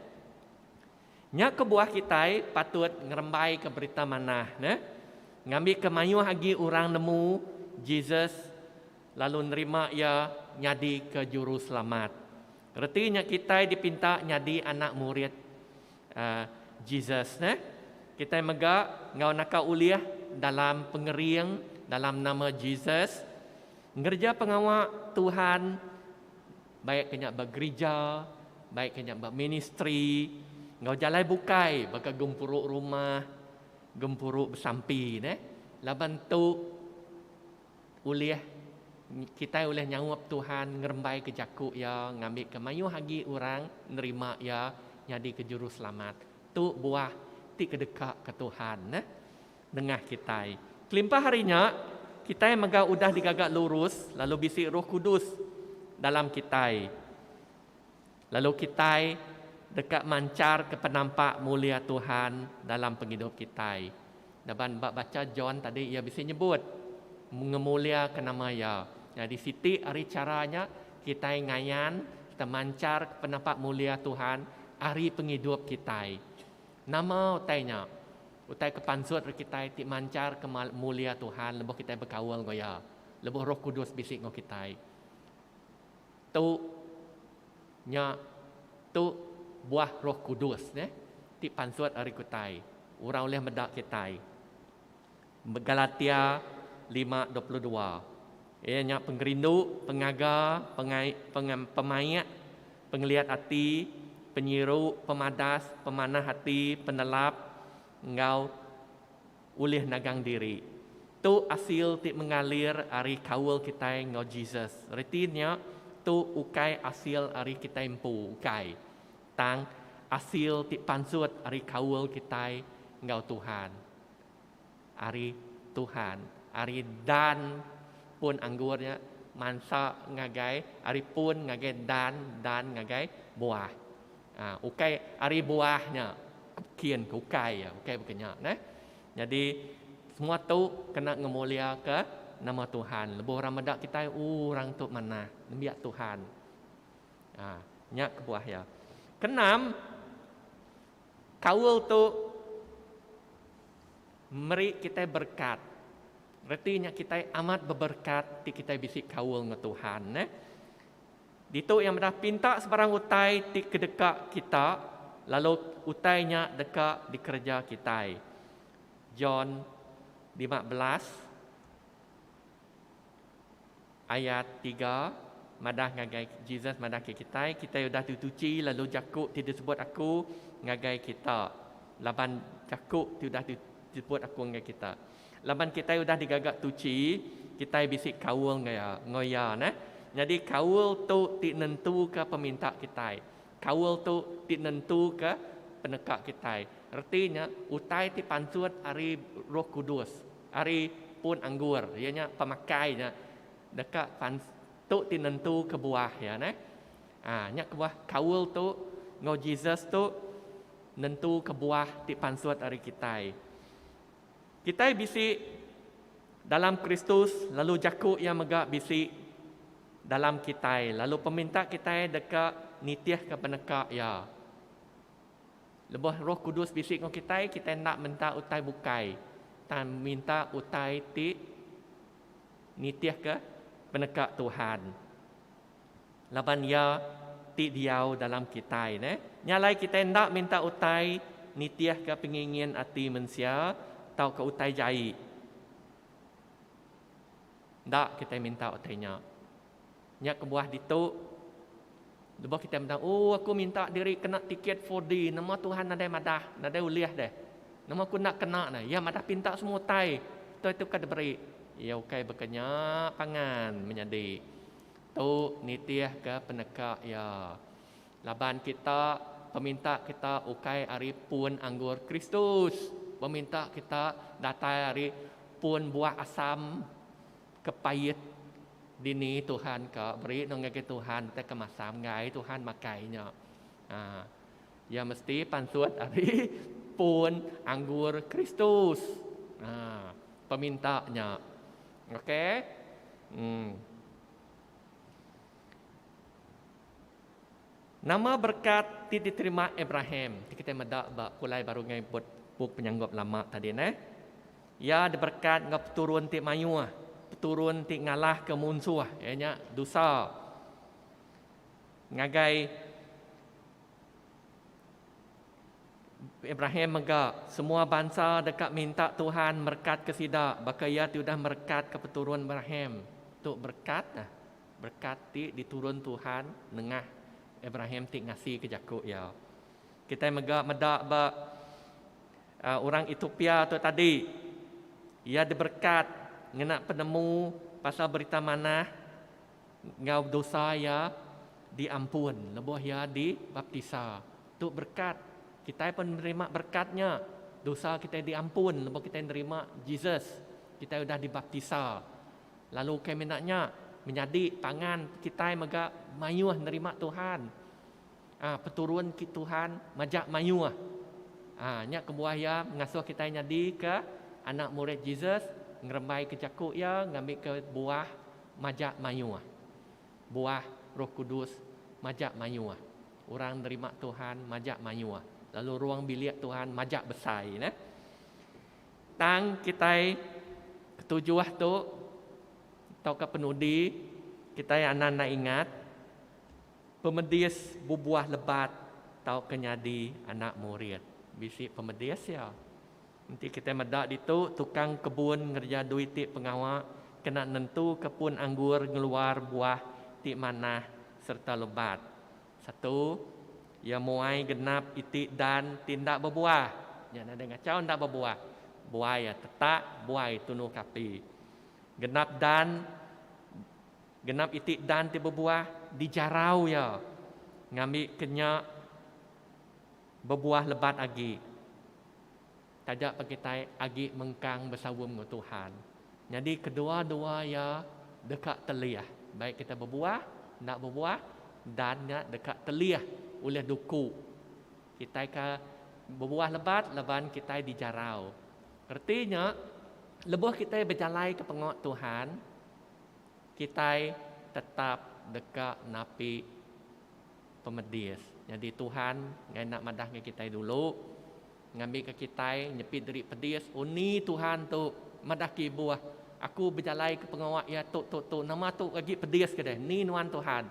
Nya kebuah kitai patut ngerembaika berita manah neh, ngambika mayuh agi orang nemu Jesus lalu nerima iya nyadika Juru Selamat. Reti nya kitai dipinta nyadi anak murid Jesus neh. Kitai mega enggau naka ulih dalam pengering dalam nama Jesus ngereja pengawa Tuhan baik ke nya ba gerija, baik ke nya ba ministri enggau jalai bukai baka gempuru rumah, gempuru besampi neh. Laban tu. Ulih kitai ulih nyaup Tuhan ngerembaika jaku Iya ngambika mayuh agi orang nerima Iya nyadika Juruselamat. Tu buah ti kedekaka Tuhan nengah kitai. Kelimpah ari nya, kitai mega udah digaga lurus lalu bisi Roh Kudus dalam kitai. Lalu kitai deka mancharka penampak mulia Tuhan dalam pengidup kitai. Laban ba bacha John tadi iya bisi nyebut ngemuliaka nama iya. Nyadi siti ari chara nya kitai ngayan kita mancharka penampak mulia Tuhan ari pengidup kitai. Nama utai nya? Utai ke pansut ari kitai ti mancharka mulia Tuhan lebuh kitai bekaul enggau iya lebuh Roh Kudus bisi enggau kitai. Tu nya tu buah roh kudus neh ti pansut ari kutai orang ulih meda kitai. Galatia lima dua puluh dua Iya nya pengerindu, pengaga, pengai, pengam, pemaik, pengeliat ati, penyiru, pemadas, pemanah ati, penelap, enggau Ulih nagang diri. Tu asil ti mengalir ari kaul kitai enggau Jesus. Reti nya, tu ukai asil ari kitai empu, ukai. Tang, asil ti pansut ari kaul kitai enggau Tuhan. Ari Tuhan. Ari dan pun anggur nya, mansa ngagai ari pun ngagai dan, dan ngagai buah. Ah ukai ari buah nya kin ke ukai iya ukai baka nya neh. Nyadi semua tu kena ngemulia ke nama Tuhan lebuh orang meda kitai ooh orang tu manah nembiak Tuhan. Ah nya kebuah iya. Keenam kaul tu meri kitai berkat reti nya kitai amat beberkat ti kitai bisi kaul enggau Tuhan neh. Ditu Iya meda pinta sebarang utai ti kedeka kita, lalu utai nya deka dikereja kitai. John lima belas ayat tiga madah ngagai Jesus madah ke kitai, kitai udah dituchi lalu jaku ti disebut aku ngagai kita laban jaku ti udah disebut aku ngagai kita. Laban kitai udah digaga tuchi, kitai bisi kaul enggau iya, enggau iya neh. Nyadi kaul tu ti nentuka peminta kitai. Kaul tu ti nentuka peneka kitai. Reti nya utai ti pansut ari Roh Kudus, ari pun anggur, iya nya pemakai nya deka pans tu ti nentuka buah iya neh. Ah nya kebuah kaul tu enggau Jesus tu nentuka buah ti pansut ari kitai. Kitai bisi dalam Kristus lalu jaku Iya mega bisi dalam kitai lalu peminta kitai deka nitihka peneka Iya. Lebuh Roh Kudus bisi enggau kitai, kitai enda minta utai bukai, tang minta utai ti nitihka peneka Tuhan. Laban iya ti diau dalam kitai neh. Nya alai kitai enda minta utai nitihka pengingin ati mensia tauka utai jai. Enda kitai minta utai nya. Nya kebuah ditu, lebuh kitai meda, Oh, aku minta diri kena tiket 4D, nama Tuhan nadai madah, nadai ulih deh. Nama aku enda kena ne? Iya madah pinta semua utai, utai tu ke diberi. Iya ukai baka nya pangan menyadi. Tu nitihka peneka iya. Laban kita, peminta kita ukai ari pun anggur Kristus. Peminta kita datai ari pun buah asam ke pait dini Tuhan ka beri no ngagai Tuhan utai ke masam enggai Tuhan makai nya. Haa. Iya mesti pansut ari pun anggur Kristus. Haa. Peminta nya. Okey. Hmm. Nama berkat ti diterima Abraham? Ti kita meda ba pulai baru ngai bup penyanggup lama tadi neh. Iya diberkat enggau peturun ti mayuh, peturun ti ngalahka munsuh iya nya dusa. Ngagai Abraham mega semua bansa deka minta Tuhan merekatka sida baka Iya ti udah merekatka peturun Abraham. Tu berekat nah, berekat ti diturun Tuhan nengah Abraham ti ngasika jaku Iya. Kitai mega meda ba orang Ethiopia tu tadi, iya diberekat ngena penemu pasal Berita Manah. Enggau dosa iya diampun lebuh iya dibaptisa. Tu berekat. Kitai pen nerima berekat nya. Dosa kitai diampun lebuh kitai nerima Jesus. Kitai udah dibaptisa. Lalu ukai mina nya, menyadi pangan kitai mega mayuh nerima Tuhan. Aa peturun ki Tuhan majak mayuh. Aa nya kebuah iya ngasuh kitai nyadika anak murid Jesus, ngerembaika jaku iya, ngambika buah. Majak mayuh. Buah Roh Kudus majak mayuh. Orang nerima Tuhan majak mayuh. Lalu ruang bilik Tuhan majak besai nah. Tang kitai ketujuh tu tauka penudi kitai anang enda ingat pemedis bebuah lebat tauka nyadi anak murid. Bisi pemedis iya. Enti kitai meda ditu, tukang kebun ngereja duit ti pengawa kena nentuka pun anggur ngeluar buah ti manah sereta lebat. Satu, iya muai genap iti dan ti enda bebuah. Nya nadai ngachau enda bebuah. Buai iya tetak, buai tunu kapi. Genap dan genap iti dan ti bebuah dijarau iya ngambika nya. Bebuah lebat agi, taja pa kitai agi mengkang besaum enggau Tuhan. Nyadi kedua-dua iya deka telih, baik kitai bebuah, enda bebuah, dan nya deka telih ulih duku kitai ke bebuah lebat laban kitai dijarau. Reti nya, lebuh kitai bejalaika pengawa Tuhan, kitai tetap deka napi. Pemedis. Nyadi Tuhan ngaina madah enggau kitai dulu, ngambika kitai nyepi diri pedis undi Tuhan tu madah ke ibuh, Aku bejalaika pengawa Iya tu, tu, tu, nama tu agi pedis ke deh, endi nuan Tuhan?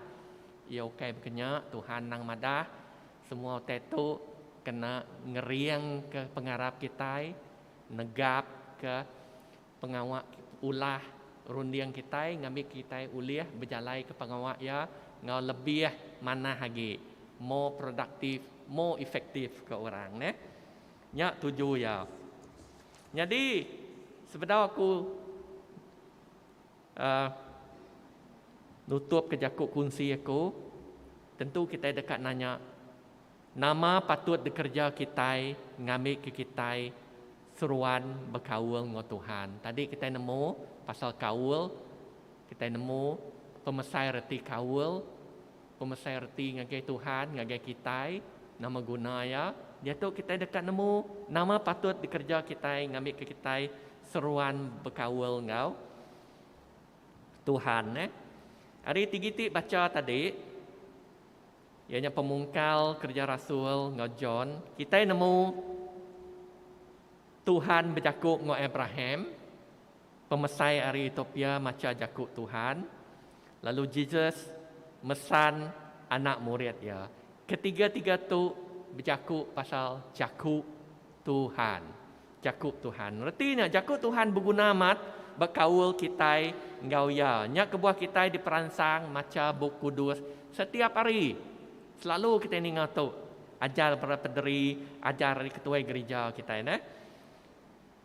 Iya ukai baka nya, Tuhan endang madah semua utai tu kena ngeringka pengarap kitai, negapka. Pengawa ulah runding kitai ngambi kitai ulih bejalaika pengawa iya enggau lebih manah agi, more productive, more effective ke orang neh. Nya tuju iya. Nyadi, sebedau aku uhh nutupka jaku kunsi aku, tentu kitai deka nanya, nama patut dikereja kitai ngambika kitai Seruan bekaul enggau Tuhan. Tadi kitai nemu pasal kaul, kitai nemu pemesai reti kaul, pemesai reti ngagai Tuhan, ngagai kitai, nama guna iya. Diatu kitai deka nemu nama patut dikereja kitai ngambika kitai seruan bekaul enggau Tuhan. Ari tigi ti bacha tadi. Iya nya pemungkal Kerja Rasul enggau John. Kitai nemu Tuhan bejaku enggau Abraham, pemesai ari Ethiopia macha jaku Tuhan, lalu Jesus mesan anak murid iya. Ketiga-tiga tu bejaku pasal jaku Tuhan. Jaku Tuhan. Reti nya, Jaku Tuhan beguna amat ba kaul kitai enggau Iya. Nya kebuah kitai diperansang macha Bup Kudus setiap hari. Selalu kitai ninga tu ajar para pederi, ajar ari ketuai gerija kitai neh.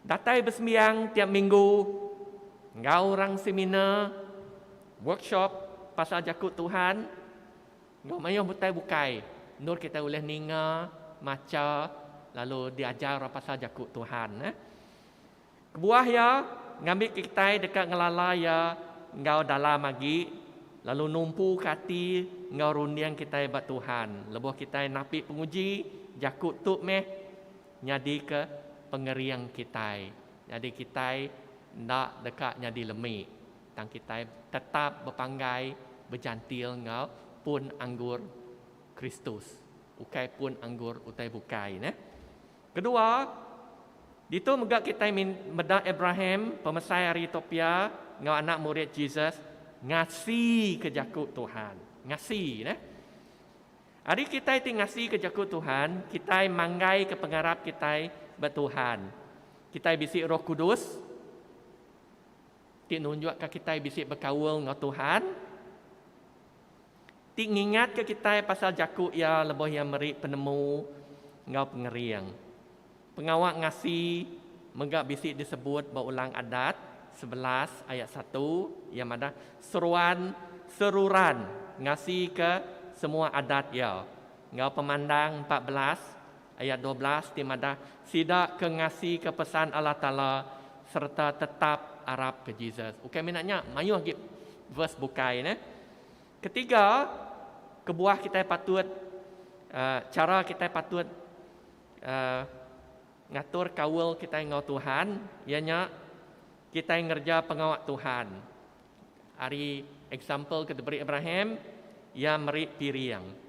Datai besembiang tiap minggu enggau orang seminar, workshop pasal Jaku Tuhan. Ba mayuh utai bukai, endur kitai ulih ninga, macha, lalu diajar orang pasal Jaku Tuhan. Kebuah iya, ngambika kitai deka ngelala iya enggau dalam agi, lalu numpuka ati enggau runding kitai ba Tuhan. Lebuh kitai napi penguji, jaku tu meh nyadika pengering kitai, nyadi kitai enda deka nyadi lemi. Tang kitai tetap bepanggai bejantil enggau pun anggur Kristus, ukai pun anggur utai bukai. Nah. Kedua, ditu mega kitai meda Abraham, pemesai ari Ethiopia enggau anak murid Jesus ngasika jaku Tuhan. Ngasi, nah. Ari kitai ti ngasika jaku Tuhan, kitai manggaika pengarap kitai ba Tuhan. Kitai bisi Roh Kudus. Ti nunjukka kitai bisi bekaul enggau Tuhan. Ti ngingatka kitai pasal jaku Iya lebuh Iya meri penemu enggau pengering. Pengawa ngasi mega bisi disebut ba Ulang Adat sebelas ayat satu, iya madah, Seruan seruran ngasika semua adat iya, enggau Pemandang empat belas Ayat dua belas ti madah, Sida ke ngasika pesan Allah Taala sereta tetap arap ke Jesus. Ukai mina nya, mayuh agi verse bukai ne. Ketiga, kebuah kitai patut chara kitai patut ngatur kaul kitai enggau Tuhan iya nya kitai ngereja pengawa Tuhan. Ari example ke diberi Abraham, iya meri piring.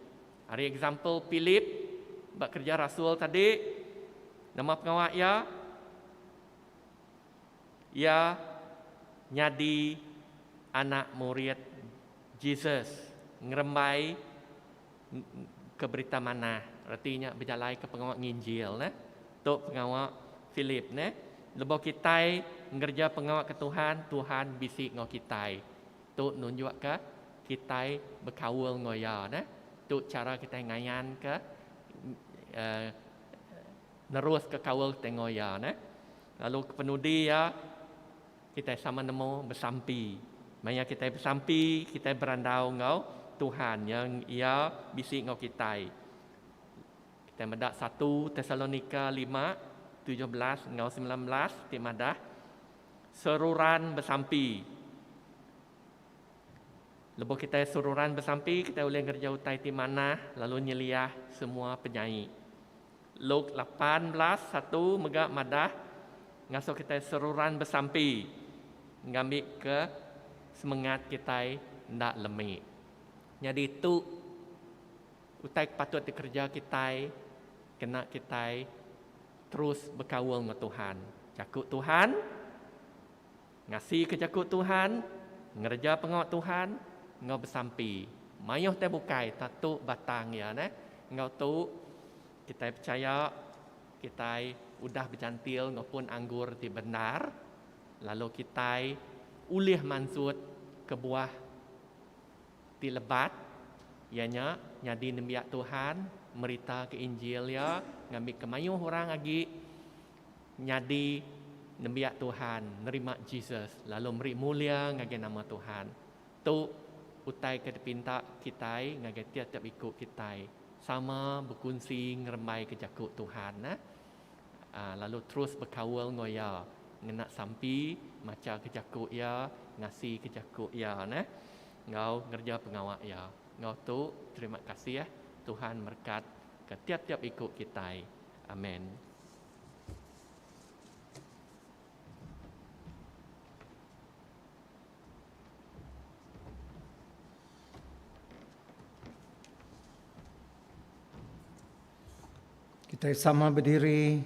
Ari example Philip ba Kerja Rasul tadi, nama pengawa iya? Iya nyadi anak murid Jesus, ngerembai ke Berita Manah, reti nya bejalaika pengawa nginjil neh. Tu pengawa Philip neh. Lebuh kitai ngereja pengawa ke Tuhan, Tuhan bisi enggau kitai. Tu nunjukka kitai bekaul enggau Iya. Nah, tu chara kitai ngayanka neruska kaul kitai enggau Iya. Nah, lalu kepenudi iya kitai sama nemu besampi. Maya kitai besampi, kitai berandau enggau Tuhan iya, iya bisi enggau kitai. Kitai meda satu Tesalonika lima tujuh belas enggau semilan belas ti madah. Seruran besampi. Lebuh kitai seruran besampi, kitai ulih ngereja utai ti manah lalu nyeliah semua penyai. Luke lapan belas satu mega madah ngasuh kitai seruran besampi ngambika semengat kitai enda lemi. Nyadi tu Utai ke patut dikereja kitai kena kitai terus bekaul enggau Tuhan, jaku Tuhan, ngasika jaku Tuhan, ngereja pengawa Tuhan enggau besampi. Mayuh tai bukai tau tu batang iya neh. Enggau tu kitai pechaya kitai udah bejantil enggau pun anggur ti bendar lalu kitai ulih mansut kebuah ti lebat, iya nya nyadi nembiak Tuhan, meritaka Injil iya ngambika mayuh orang agi nyadi nembiak Tuhan, nerima Jesus lalu meri mulia ngagai nama Tuhan. Tu utai ke dipinta kitai ngagai tiap-tiap iku kitai, sama bekunsi ngerembaika jaku Tuhan. Lalu terus bekaul enggau iya ngena sampi, machaka jaku iya, ngasika jaku iya neh enggau ngereja pengawa iya. Enggau tu terima kasih eh Tuhan merekatka tiap-tiap iku kitai. Amen. Kitai sama bediri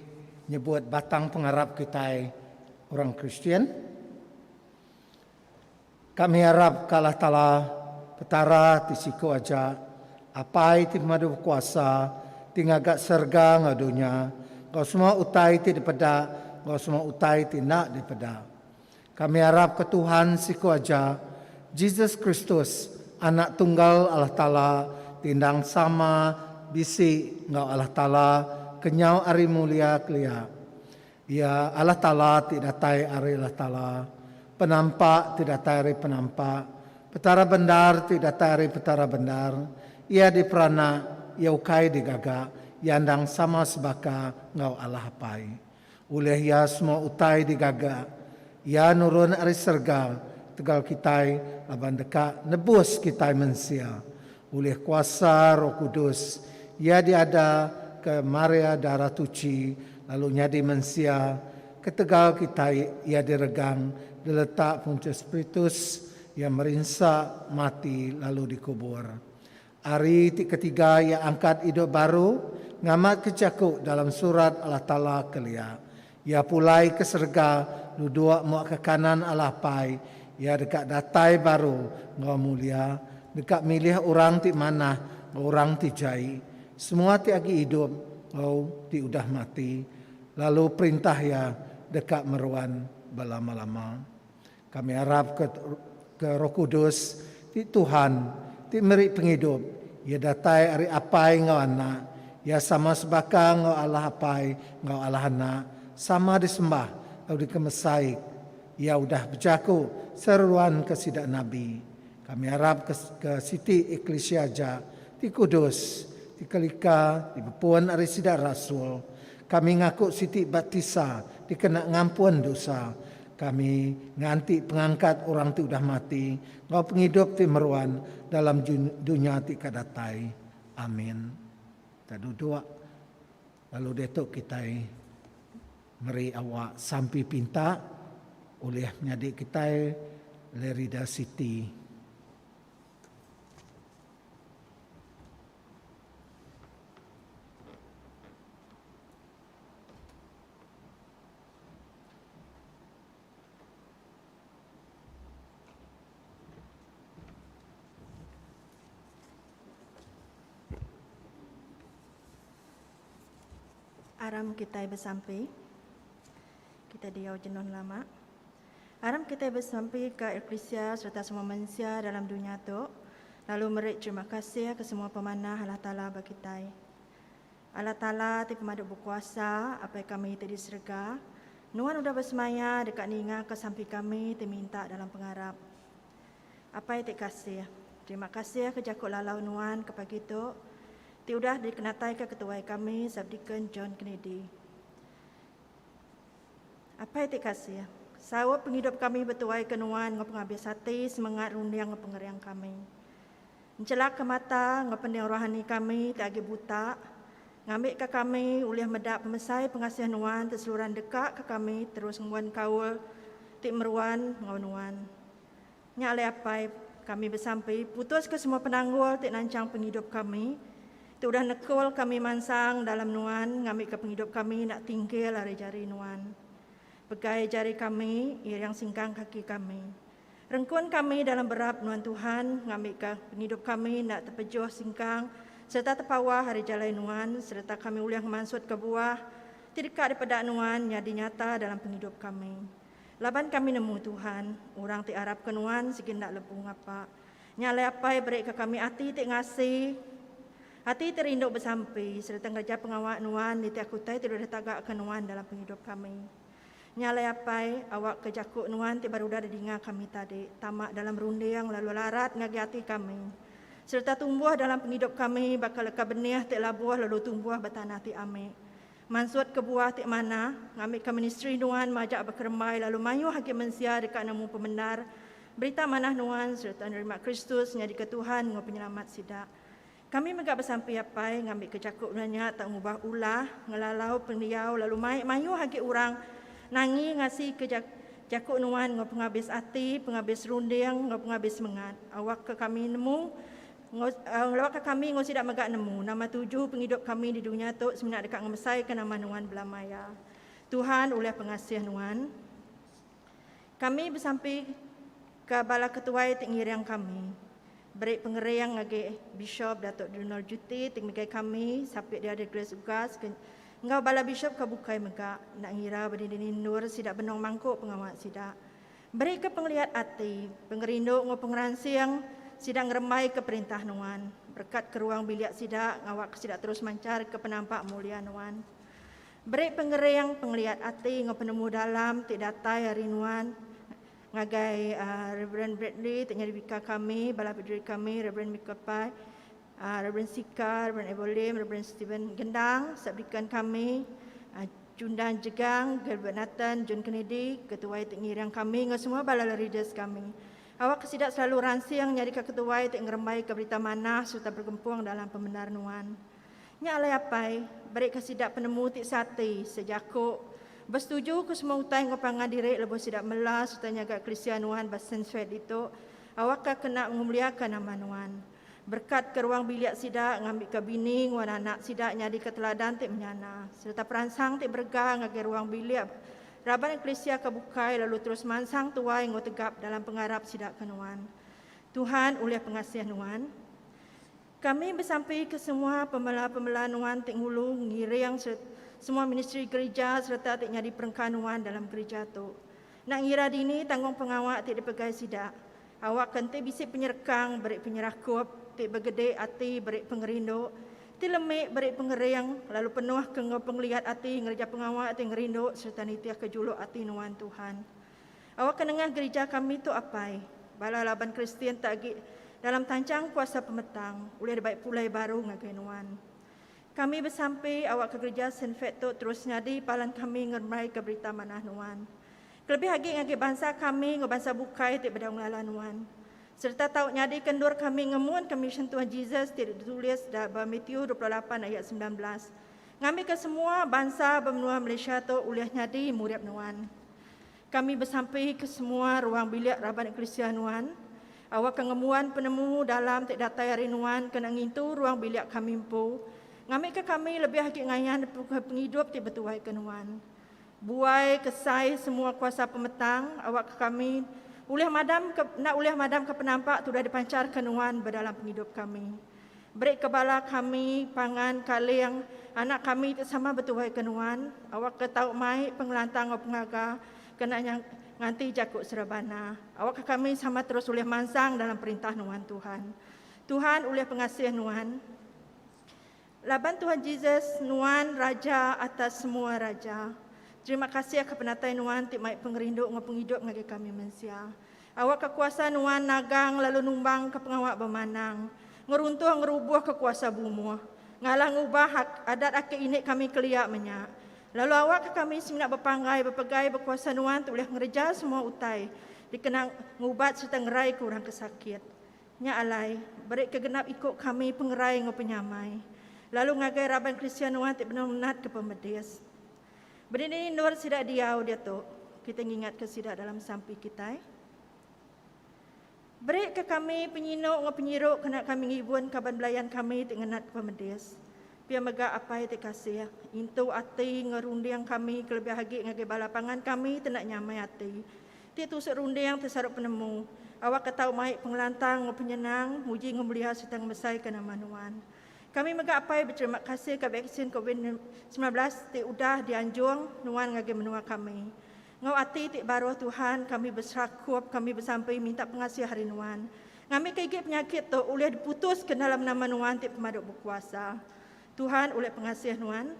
nyebut batang pengarap kitai orang Kristian. Kami arap ka Allah Taala, Petara ti siku aja, Apai ti pemadu bekuasa, ti ngaga serega enggau dunya, enggau semua utai ti dipeda enggau semua utai ti enda dipeda. Kami arapka Tuhan siku aja, Jesus Kristus, Anak Tunggal Allah Taala ti endang sama bisi enggau Allah Taala kenyau ari mulia kelia. Iya Allah Taala ti datai ari Allah Taala, Penampak ti datai ari Penampak, Petara bendar ti datai ari Petara bendar. Iya diperanak, iya ukai digaga, iya endang sama sebaka enggau Allah Apai. Ulih iya semua utai digaga. Iya nurun ari serega tegal kitai laban deka nebus kitai mensia. Ulih kuasa Roh Kudus, iya diada ke Maria Darah Tuchi lalu nyadi mensia. Ketegal kitai iya diregang diletak Pontius Pritus, iya merinsa, mati lalu dikubur. Ari ti ketiga iya angkat idup baru ngamatka jaku dalam surat Allah Taala kelia. Iya pulai ke serega duduk mua ke kanan Allah Apai iya deka datai baru enggau mulia deka milih orang ti manah enggau orang ti jai, semua ti agi idup enggau ti udah mati, lalu perintah iya deka meruan belama-lama. Kami arap ke ke Roh Kudus ti Tuhan ti meri pengidup iya datai ari Apai enggau Anak. Iya sama sebaka enggau Allah Apai enggau Allah Anak, sama disembah tau dikemesai. Iya udah bejaku seruan ke sida nabi. Kami arap ke ke siti eklisia aja ti kudus, ti kelika dibepun ari sida rasul. Kami ngaku siti baptisa dikena ngampun dosa. Kami nganti pengangkat orang ti udah mati enggau pengidup ti meruan dalam dunya ti ka datai. Amin. Kita duduk, lalu diatu kitai meri awak sampi pinta ulih nyadi kitai Lerida City. Aram kitai besampi. Kitai diau jenuh nelama. Aram kitai besampi ka eklisia sereta semua mensia dalam dunya tu lalu meri terima kasih ke semua pemanah Allah Taala ba kitai. Allah Taala ti pemadu bekuasa, Apai kami ti di serega, Nuan udah besemaya deka ningaka sampi kami ti minta dalam pengarap. Apai ti kasih, terima kasih ke jaku lalau Nuan ke pagi tu ti udah dikenataika ke tuai kami Subdeacon John Kennedy. Apai ti kasih, saup pengidup kami betuaika Nuan enggau pengabis ati, semengat runding enggau pengering kami. Enchelaka mata enggau pening rohani kami ti agi buta, ngambika kami ulih meda pemesai pengasih Nuan ti seluran deka ke kami terus ngembuan kaul ti meruan enggau Nuan. Nya alai Apai, kami besampi putuska semua penanggul ti nanchang pengidup kami, ti udah nekul kami mansang dalam Nuan ngambika pengidup kami enda tinggil ari jari Nuan. Pegai jari kami, iring singkang kaki kami. Rengkun kami dalam berap nuan Tuhan ngambika pengidup kami enda tepejuh singkang sereta tepawah ari jalai nuan sereta kami ulih ngemansutka buah ti deka dipeda nuan nyadi nyata dalam pengidup kami. Laban kami nemu Tuhan, orang ti arapka nuan sigi enda lebu ngapa. Nya alai Apai berika kami ati ti ngasi, ati ti rindu besampi sereta ngereja pengawa nuan nitihka utai ti dulih tagaka nuan dalam pengidup kami. Nya alai apai, awakka jaku nuan ti baru udah didinga kami tadi tama dalam runding lalu larat ngagai ati kami sereta tumbuh dalam pengidup kami baka leka benih ti labuh lalu tumbuh ba tanah ti amik mansut kebuah ti manah ngambika ministri nuan majak bekerembai lalu mayuh agi mensia deka nemu pemendar berita manah nuan sereta nerima Kristus nyadika Tuhan enggau Penyelamat sida. Kami mega besampi apai ngambika jaku nuan nya tau ngubah ulah, ngelalau pendiau lalu mai mayuh agi orang nangi ngasika jaku nuan enggau pengabis ati, pengabis runding enggau pengabis semengat. Awakka kami nemu enggau awakka kami enggau sida mega nemu nama tuju pengidup kami di dunya tu semina deka ngemesaika nama nuan belamaya. Tuhan ulih pengasih nuan. Kami besampi ka bala ketuai ti ngiring kami. Beri pengering ngagai Bishop Datuk Donald Juti ti ngegai kami sapi diada Grace Ugas ke enggau bala bishop ke bukai mega enda ngira ba dinding endur sida benung mangku pengawa sida. Beri ke pengeliat ati, pengerindu enggau pengeransing sida ngerembai ke perintah Nuan. Berkat ke ruang bilik sida ngawa ke sida terus manchar ke penampak mulia Nuan. Beri pengering, pengeliat ati enggau penemu dalam ti datai ari nuan ngagai Rev. Bradley ti nyadi bika kami, bala biduri kami, Rev. Michael Pai, Rev. Sika, Rev. Abel Lim, Rev. Steven Gendang, Subdeacon kami, Chundan Jegang, Gilbert Nathan, John Kennedy, ketuai ti ngiring kami enggau semua bala leaders kami. Awakka sida selalu ransing nyadika ketuai ti ngerembaika berita manah sereta bergempung dalam pemendar nuan. Nya alai Apai, berika sida penemu ti seati, sejaku, besetuju ke semua utai enggau pangan diri lebuh sida mela sereta nyaga Eklisia Nuan ba Sensuai ditu, awakka kena ngemuliaka nama Nuan. Berekatka ruang bilik sida ngambika bini enggau anak sida nyadika teladan ti menyana, sereta peransang ti berega ngagai ruang bilik raban Eklisia ke bukai lalu terus mansang tuai enggau tegap dalam pengarap sida ke Nuan. Tuhan, ulih pengasih Nuan. Kami besampi ke semua pemela-pemela nuan ti ngulu, ngiring sereta semua ministri gerija sereta ti nyadi perengka nuan dalam gerija tu. Enda ngira dini tanggungpengawa ti dipegai sida, awakka enti bisi penyerekang beri penyerakup ti begede ati beri pengerindu ti lemi beri pengering lalu penuhka enggau pengeliat ati ngereja pengawa ti ngerindu sereta nitihka juluk ati nuan Tuhan. Awakka nengah gerija kami tu apai, bala laban Kristian ti agi dalam tanchang kuasa pemetang ulih dibai pulai baru ngagai nuan. Kami besampi awakka gerija Sinfet tu terus nyadi palan kami ngerembaika berita manah nuan. Kelebih agi ngagai bansa kami enggau bansa bukai ti bedau ngelala nuan. Sereta tau nyadika endur kami ngemunka misyen Tuhan Jesus ti ditulis da ba Matiu dua puluh lapan ayat semilan belas, ngambika semua bansa ba menua Malaysia tu ulih nyadi murid nuan. Kami besampi ke semua ruang bilik raban eklisia nuan, awakka ngembuan penemu dalam ti datai ari nuan kena ngintu ruang bilik kami empu, ngambika kami lebih agi ngayan nepuka pengidup ti betuai ke nuan. Buai kesai semua kuasa pemetang awakka kami ulih madamka enda ulih madamka penampak ti udah dipanchar ke nuan bedalam pengidup kami. Berika bala kami pangan kaling anak kami ti sama betuai ke nuan, awakka tau mai pengelantang enggau pengaga kena nya nganti jaku serebana, awakka kami sama terus ulih mansang dalam perintah nuan, Tuhan. Tuhan ulih pengasih nuan. Laban Tuhan Jesus, nuan Raja atas semua raja. Terima kasih ka penatai nuan ti mai pengerindu enggau pengidup ngagai kami mensia. Awakka kuasa nuan nagang lalu numbangka pengawa bemanang, ngeruntuh ngerubuhka kuasa bumuh, ngalah ngubah hak adat aki ini kami kelia menya. Lalu awakka kami semina bepanggai bepegai bekuasa nuan tu ulih ngereja semua utai dikena ngubat sereta ngeraika orang ke sakit. Nya alai, berika genap iku kami pengerai enggau penyamai, lalu ngagai raban Kristian nuan ti benung natka pemedis. Bedini endur sida diau diatu, kitai ngingatka sida dalam sampi kitai. Berika kami penyinu enggau penyiru kena kami ngibun kaban belayan kami ti ngenat ke pemedis. Pia mega Apai ti kasih, intu ati enggau runding kami kelebih agi ngagai bala pangan kami ti enda nyamai ati, ti tusuk runding ti sarup penemu, awakka tau mai pengelantang enggau penyenang, muji enggau mulia sereta ngemesaika nama Nuan. Kami mega apai beterima kasih ka vaksin Covid semilan belas ti udah dianjung nuan ngagai menua kami. Enggau ati ti baruh Tuhan kami beserakup kami besampi minta pengasih ari nuan. Ngambika igi penyakit tu ulih diputuska dalam nama nuan ti pemadu bekuasa. Tuhan ulih pengasih nuan.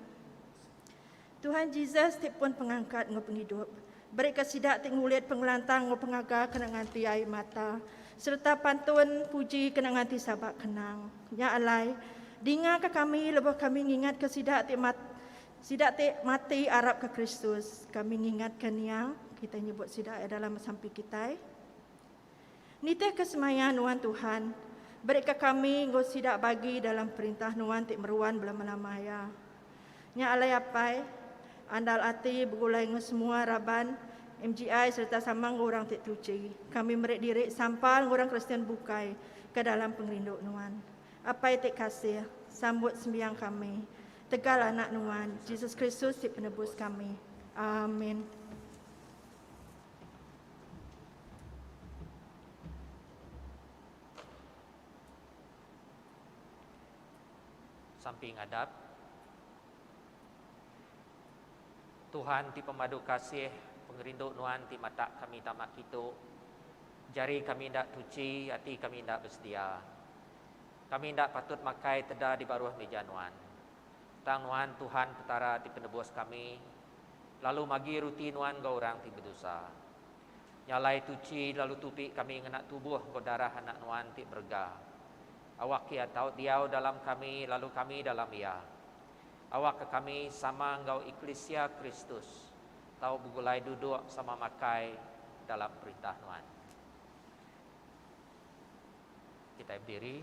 Tuhan Jesus ti pun pengangkat enggau pengidup, berika sida ti ngulit pengelantang enggau pengaga kena nganti ai mata sereta pantun puji kena nganti sabak kenang. Nya alai, dingaka kami lebuh kami ngingatka sida ti mat sida ti mati arapka Kristus. Kami ngingatka nia, kitai nyebut sida ia dalam sampi kitai. Nitihka semaya nuan Tuhan, berika kami enggau sida bagi dalam perintah nuan ti meruan belama-lama iya. Nya alai Apai, andal ati begulai enggau semua raban MGI sereta sama enggau orang ti tuchi, kami meri diri sampal enggau orang Kristian bukai ke dalam pengerindu nuan. Apai ti kasih, sambut sembiang kami tegal Anak nuan, Jesus Kristus ti Penebus kami. Amin. Sampi ngadap. Tuhan ti pemadu kasih, pengerindu Nuan ti matak kami tama kitu. Jari kami enda tuchi, ati kami enda besedia. Kami enda patut makai teda di baruh mija Nuan. Tang Nuan Tuhan Petara ti penebus kami, Lalu magi ruti nuan enggau orang ti bedosa. Nya alai tuchi lalu tupi kami ngena tubuh enggau darah Anak nuan ti berega. Awak Iya tau diau dalam kami lalu kami dalam Iya. Awakka kami sama enggau eklisia Kristus tau begulai duduk sama makai dalam perintah nuan. Kitai bediri.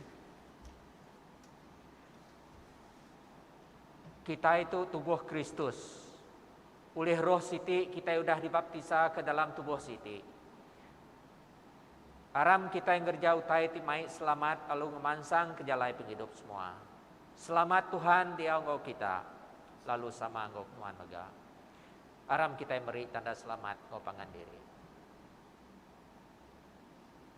Kitai tu tubuh Kristus. Ulih roh siti kitai udah dibaptisa ke dalam tubuh siti. Aram kitai ngereja utai ti mai selamat lalu ngemansang ke jalai pengidup semua. Selamat Tuhan diau enggau kita lalu sama enggau nuan mega. Aram kitai meri tanda selamat enggau pangan diri.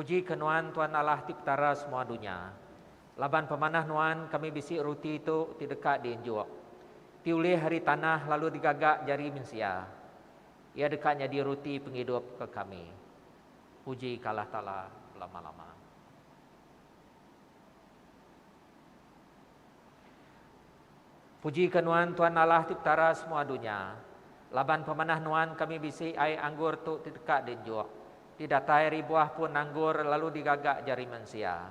Pujika Nuan Tuan Allah ti Petara semua dunya. Laban pemanah Nuan kami bisi ruti tu ti deka diunjuk, ti ulih ari tanah lalu digaga jari mensia. Iya deka nyadi ruti pengidup ke kami. Puji ka Allah Taala belama-lama. Puji ka Nuan Tuan Allah ti Petara semua dunya. Laban pemanah Nuan kami bisi ai anggur tu ti deka dienjuk, ti datai ari buah pun anggur lalu digaga jari mensia.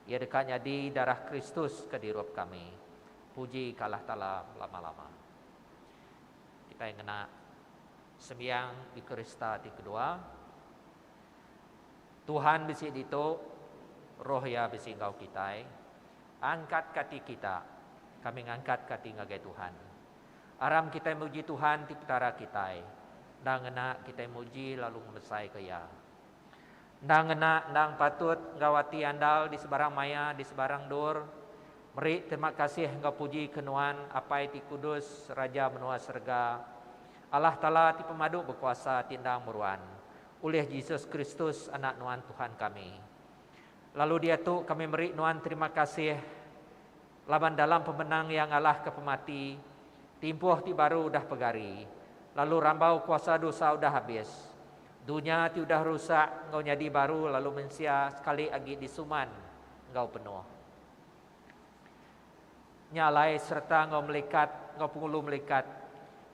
Iya deka nyadi darah Kristus ke dirup kami. Puji ka Allah Taala belama-lama. Kitai ngena. Sembiang Ekarista ti kedua. Tuhan bisi ditu, Roh Iya bisi enggau kitai. Angkatka ati kita, kami ngangkatka ati ngagai Tuhan. Aram kitai muji Tuhan ti Petara kitai, enda ngena kitai muji lalu ngebesaika Iya. Endang ngena endang patut enggau ati andal di sebarang maya di sebarang endur, meri terima kasih enggau puji ke Nuan, Apai ti kudus, Raja menua serega. Allah Taala ti pemadu bekuasa ti endang meruan, ulih Jesus Kristus Anak Nuan Tuhan kami. Lalu diatu kami meri Nuan terima kasih. Laban dalam pemenang iya ngalahka pemati, timpuh ti baru udah pegari, lalu rambau kuasa dosa udah abis. Dunya ti udah rusak enggau nyadi baru lalu mensia sekali agi disuman enggau penuh. Nya alai sereta enggau melikat enggau pengulu melikat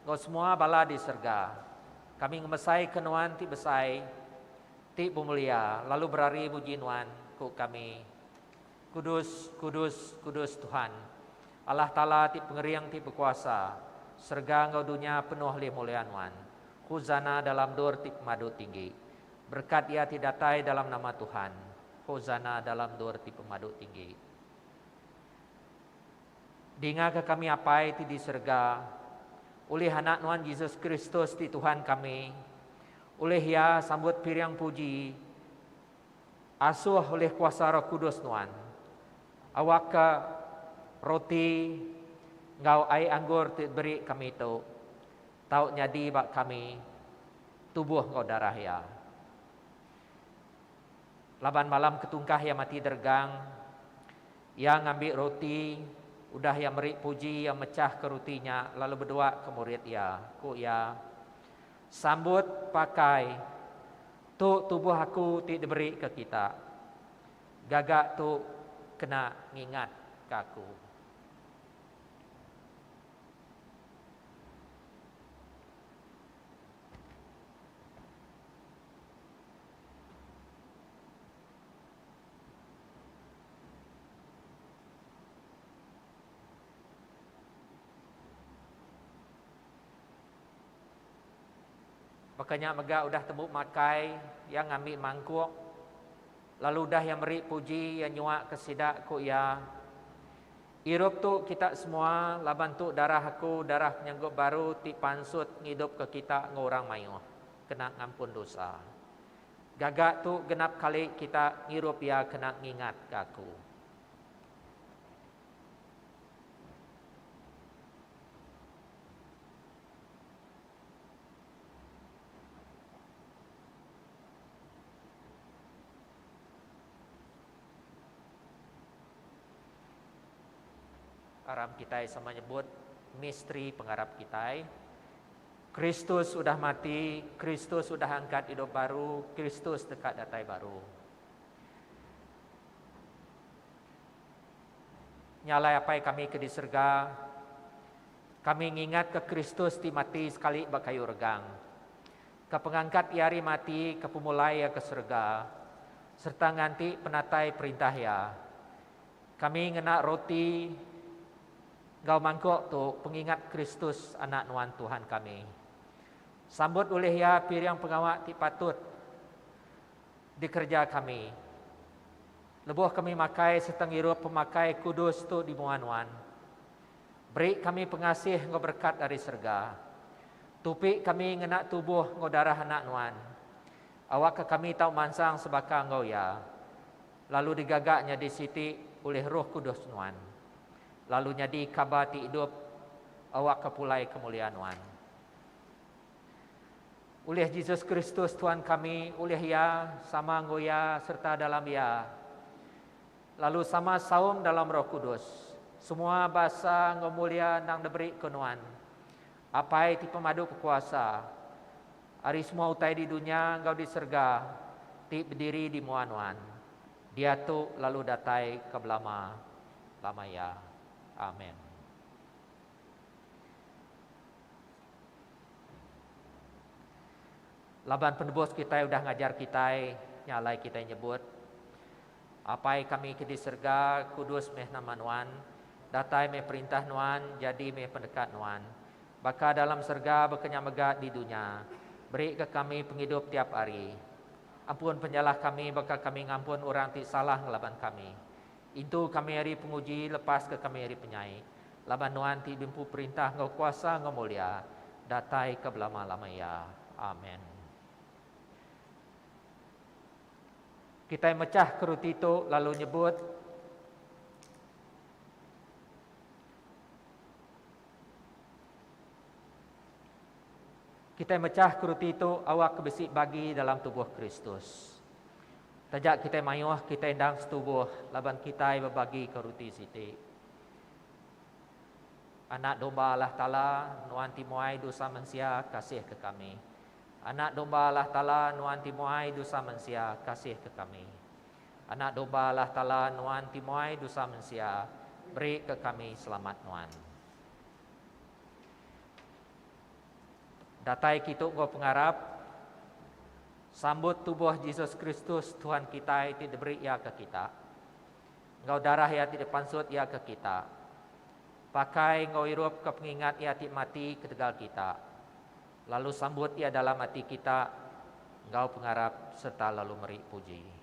enggau semua bala di serega, kami ngemesaika Nuan ti besai, ti bemulia lalu berari muji Nuan, ku kami. Kudus, kudus, kudus Tuhan, Allah Taala ti Pengering ti Bekuasa, serega enggau dunya penuh lih mulia Nuan. Husana dalam dur ti pemadu tinggi. Berekat iya ti datai dalam nama Tuhan. Husana dalam dur ti pemadu tinggi. Dingaka kami Apai ti di serega, ulih Anak Nuan Jesus Kristus ti Tuhan kami. Ulih iya sambut piring puji. Asuh ulih kuasa Roh Kudus nuan, awakka roti enggau ai anggur ti diberi kami tu tau nyadi ba kami tubuh enggau darah Iya. Laban malam ketungkah Iya mati deregang, Iya ngambi roti, udah Iya meri puji, Iya mechahka roti nya lalu bedua ke murid Iya, ku Iya, Sambut pakai, Tu tubuh aku ti diberi ke kita. Gaga tu kena ngingat ke aku. Baka nya mega udah tembu makai, iya ngambi mangkuk, lalu udah iya meri puji, iya nyuaka sida, ku iya, Irup tu kita semua, laban tu darah aku, darah penyanggup baru ti pansut ngidupka kita enggau orang mayuh, kena ngampun dosa. Gaga tu genap kali kita ngirup iya kena ngingatka aku. Aram kitai sama nyebut misteri pengarap kitai. Kristus udah mati, Kristus udah angkat idup baru, Kristus deka datai baru. Nya alai Apai kami ke di serega, Kami ngingatka Kristus ti mati sekali ba kayu regang, ka pengangkat Iya ari mati, ka pemulai Iya ke serega, sereta nganti penatai perintah Iya. Kami ngena roti enggau mangkuk tu pengingat Kristus, Anak Nuan Tuhan kami. Sambut ulih Iya piring pengawa ti patut dikereja kami. Lebuh kami makai sereta ngirup pemakai kudus tu di mua nuan, Beri kami pengasih enggau berekat ari serega. Tupi kami ngena tubuh enggau darah Anak Nuan. Awakka kami tau mansang sebaka enggau Iya, lalu digaga nyadi siti ulih Roh Kudus Nuan, lalu nyadi kaba ti idup awakka pulai kemulia Nuan. Ulih Jesus Kristus Tuan kami, ulih Iya, sama enggau Iya, sereta dalam Iya. Lalu sama saum dalam Roh Kudus. Semua basa enggau mulia endang diberi ke Nuan, Apai ti pemadu bekuasa, ari semua utai di dunya enggau di serega ti bediri di mua Nuan, diatu lalu datai ke belama lama iya. Amen. Laban penebus kitai udah ngajar kitai, nya alai kitai nyebut. Apai kami ke di serega, kudus meh nama Nuan, datai meh perintah Nuan, jadi meh pendekat Nuan, baka dalam serega baka nya mega di dunya. Berika kami pengidup tiap hari. Ampun penyalah kami baka kami ngampun orang ti salah ngelaban kami. Intu kami ari penguji, lepaska kami ari penyai, laban Nuan ti diempu perintah enggau kuasa enggau mulia, datai ke belama-lama iya. Amen. Kitai mechah ke ruti tu lalu nyebut, Kitai mechah ke ruti tu awakka bisi bagi dalam tubuh Kristus. Taja kitai mayuh, kitai endang setubuh laban kitai bebagika ruti siti. Anak Domba Allah Taala nuan ti muai dosa mensia, kasihka kami. Anak Domba Allah Taala nuan ti muai dusa mensia kasihka kami. Anak Domba Allah Taala nuan ti muai dusa mensia berika kami selamat nuan. Datai kitu enggau pengarap sambut tubuh Jesus Kristus Tuhan kitai ti diberi iya ke kita enggau darah iya ti dipansut iya ke kita pakai enggau irupka pengingat iya ti mati ketegal kita. Lalu sambut iya dalam ati kita enggau pengarap serta lalu meri puji.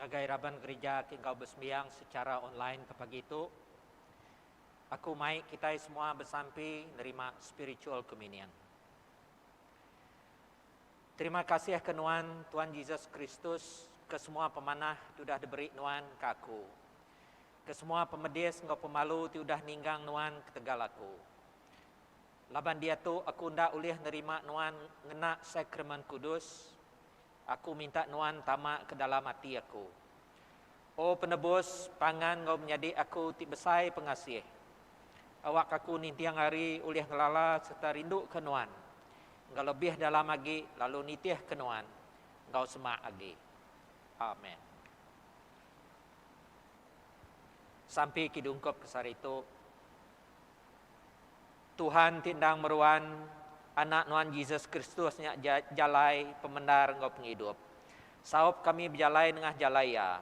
ngagai raban gerija ti enggau besembiang sechara online ke pagi tu, aku mai kitai semua besampi nerima spiritual communion. Terima kasih ke nuan, Tuan Jesus Kristus, ke semua pemanah ti udah diberi nuan ke aku, ke semua pemedis enggau pemalu ti udah ninggang nuan ketegal aku. Laban diatu aku enda ulih nerima nuan ngena Sakramen Kudus, Aku minta Nuan tama ke dalam ati aku. O Penebus, pangan enggau menyadi aku ti besai pengasih. Awak aku ninting hari ulih ngelala sereta rinduka Nuan enggau lebih dalam agi lalu nitihka Nuan enggau semak agi. Amen. Sampi kidungkup ke sehari tu. Tuhan ti endang meruan, Anak Nuan Jesus Kristus nya ja jalai, pemendar enggau pengidup. Saup kami bejalai nengah jalai Iya,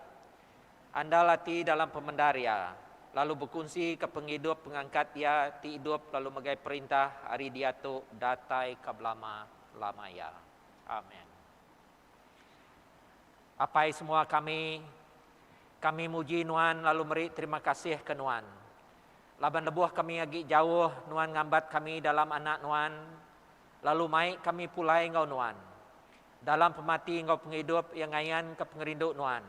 andal ati dalam pemendar Iya, lalu bekunsika pengidup pengangkat Iya ti idup lalu megai perintah ari diatu datai ka belama-lama iya. Amen. Apai semua kami, kami muji Nuan lalu meri terima kasih ke Nuan. Laban lebuh kami agi jauh, Nuan ngambat kami dalam Anak Nuan, lalu mai kami pulai enggau Nuan. Dalam pemati enggau pengidup iya ngayanka pengerindu Nuan,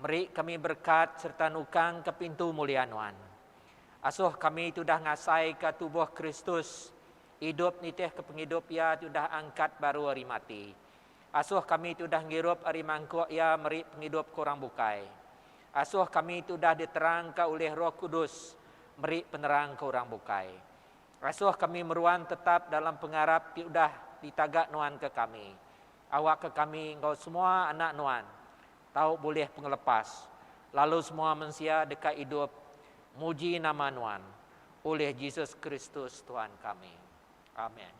meri kami berekat sereta nukangka pintu mulia Nuan. Asuh kami ti udah ngasaika tubuh Kristus idup nitihka pengidup iya ti udah angkat baru ari mati. Asoh kami ti udah ngirup ari mangkuk Iya meri pengidup ke orang bukai. Asoh kami ti udah diterangka ulih Roh Kudus meri penerang ke orang bukai. Asoh kami meruan tetap dalam pengarap ti udah ditaga Nuan ke kami, awakka kami enggau semua anak Nuan tau bulih pengelepas, lalu semua mensia deka idup muji nama Nuan, ulih Jesus Kristus Tuhan kami. Amen.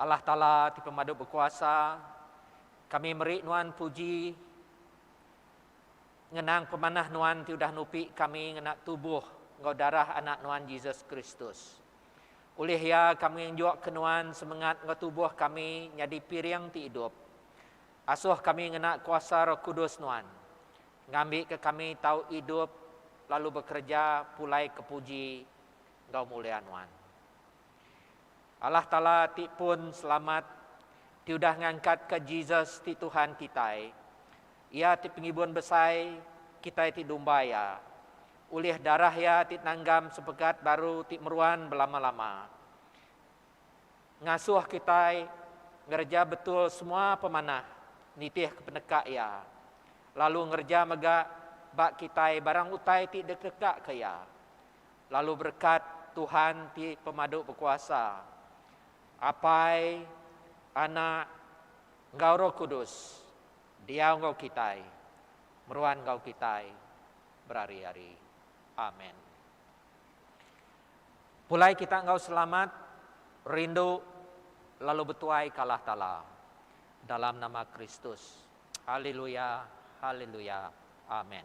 Allah Taala ti pemadu bekuasa kami meri nuan puji ngenang pemanah nuan ti udah nupi kami ngena tubuh enggau darah anak nuan Jesus Kristus. Ulih iya kami ngenjuk ke nuan semengat enggau tubuh kami nyadi piring ti idup. Asuh kami ngena kuasa Roh Kudus nuan ngambi ke kami tau idup lalu bekereja pulai ke puji enggau mulia nuan. Allah Taala ti pun selamat ti udah ngangkatka Jesus ti Tuhan kitai. Iya ti pengibun besai kitai ti dumba Iya. Ulih darah Iya ti nanggam sepegat baru ti meruan belama-lama. Ngasuh kitai ngereja betul semua pemanah nitihka peneka Iya. Lalu ngereja mega ba kitai barang utai ti dikekaka Iya. Lalu berekat Tuhan ti pemadu bekuasa, Apai, Anak, enggau Roh Kudus, diau enggau kitai, meruan enggau kitai berari-ari. Amen. Pulai kita enggau selamat, rindu, lalu betuai ka Allah Taala. Dalam nama Kristus. Haleluya, haleluya. Amen.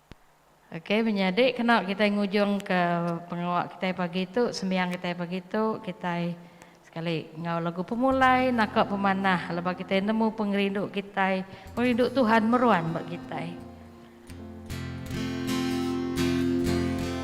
Okey menyadi kena kitai ngujungka pengawa kitai pagi tu sembiang kitai pagi tu kitai sekali enggau lagu pemulai naka pemanah laban kitai nemu pengerindu kitai pengerindu Tuhan meruan ba kitai.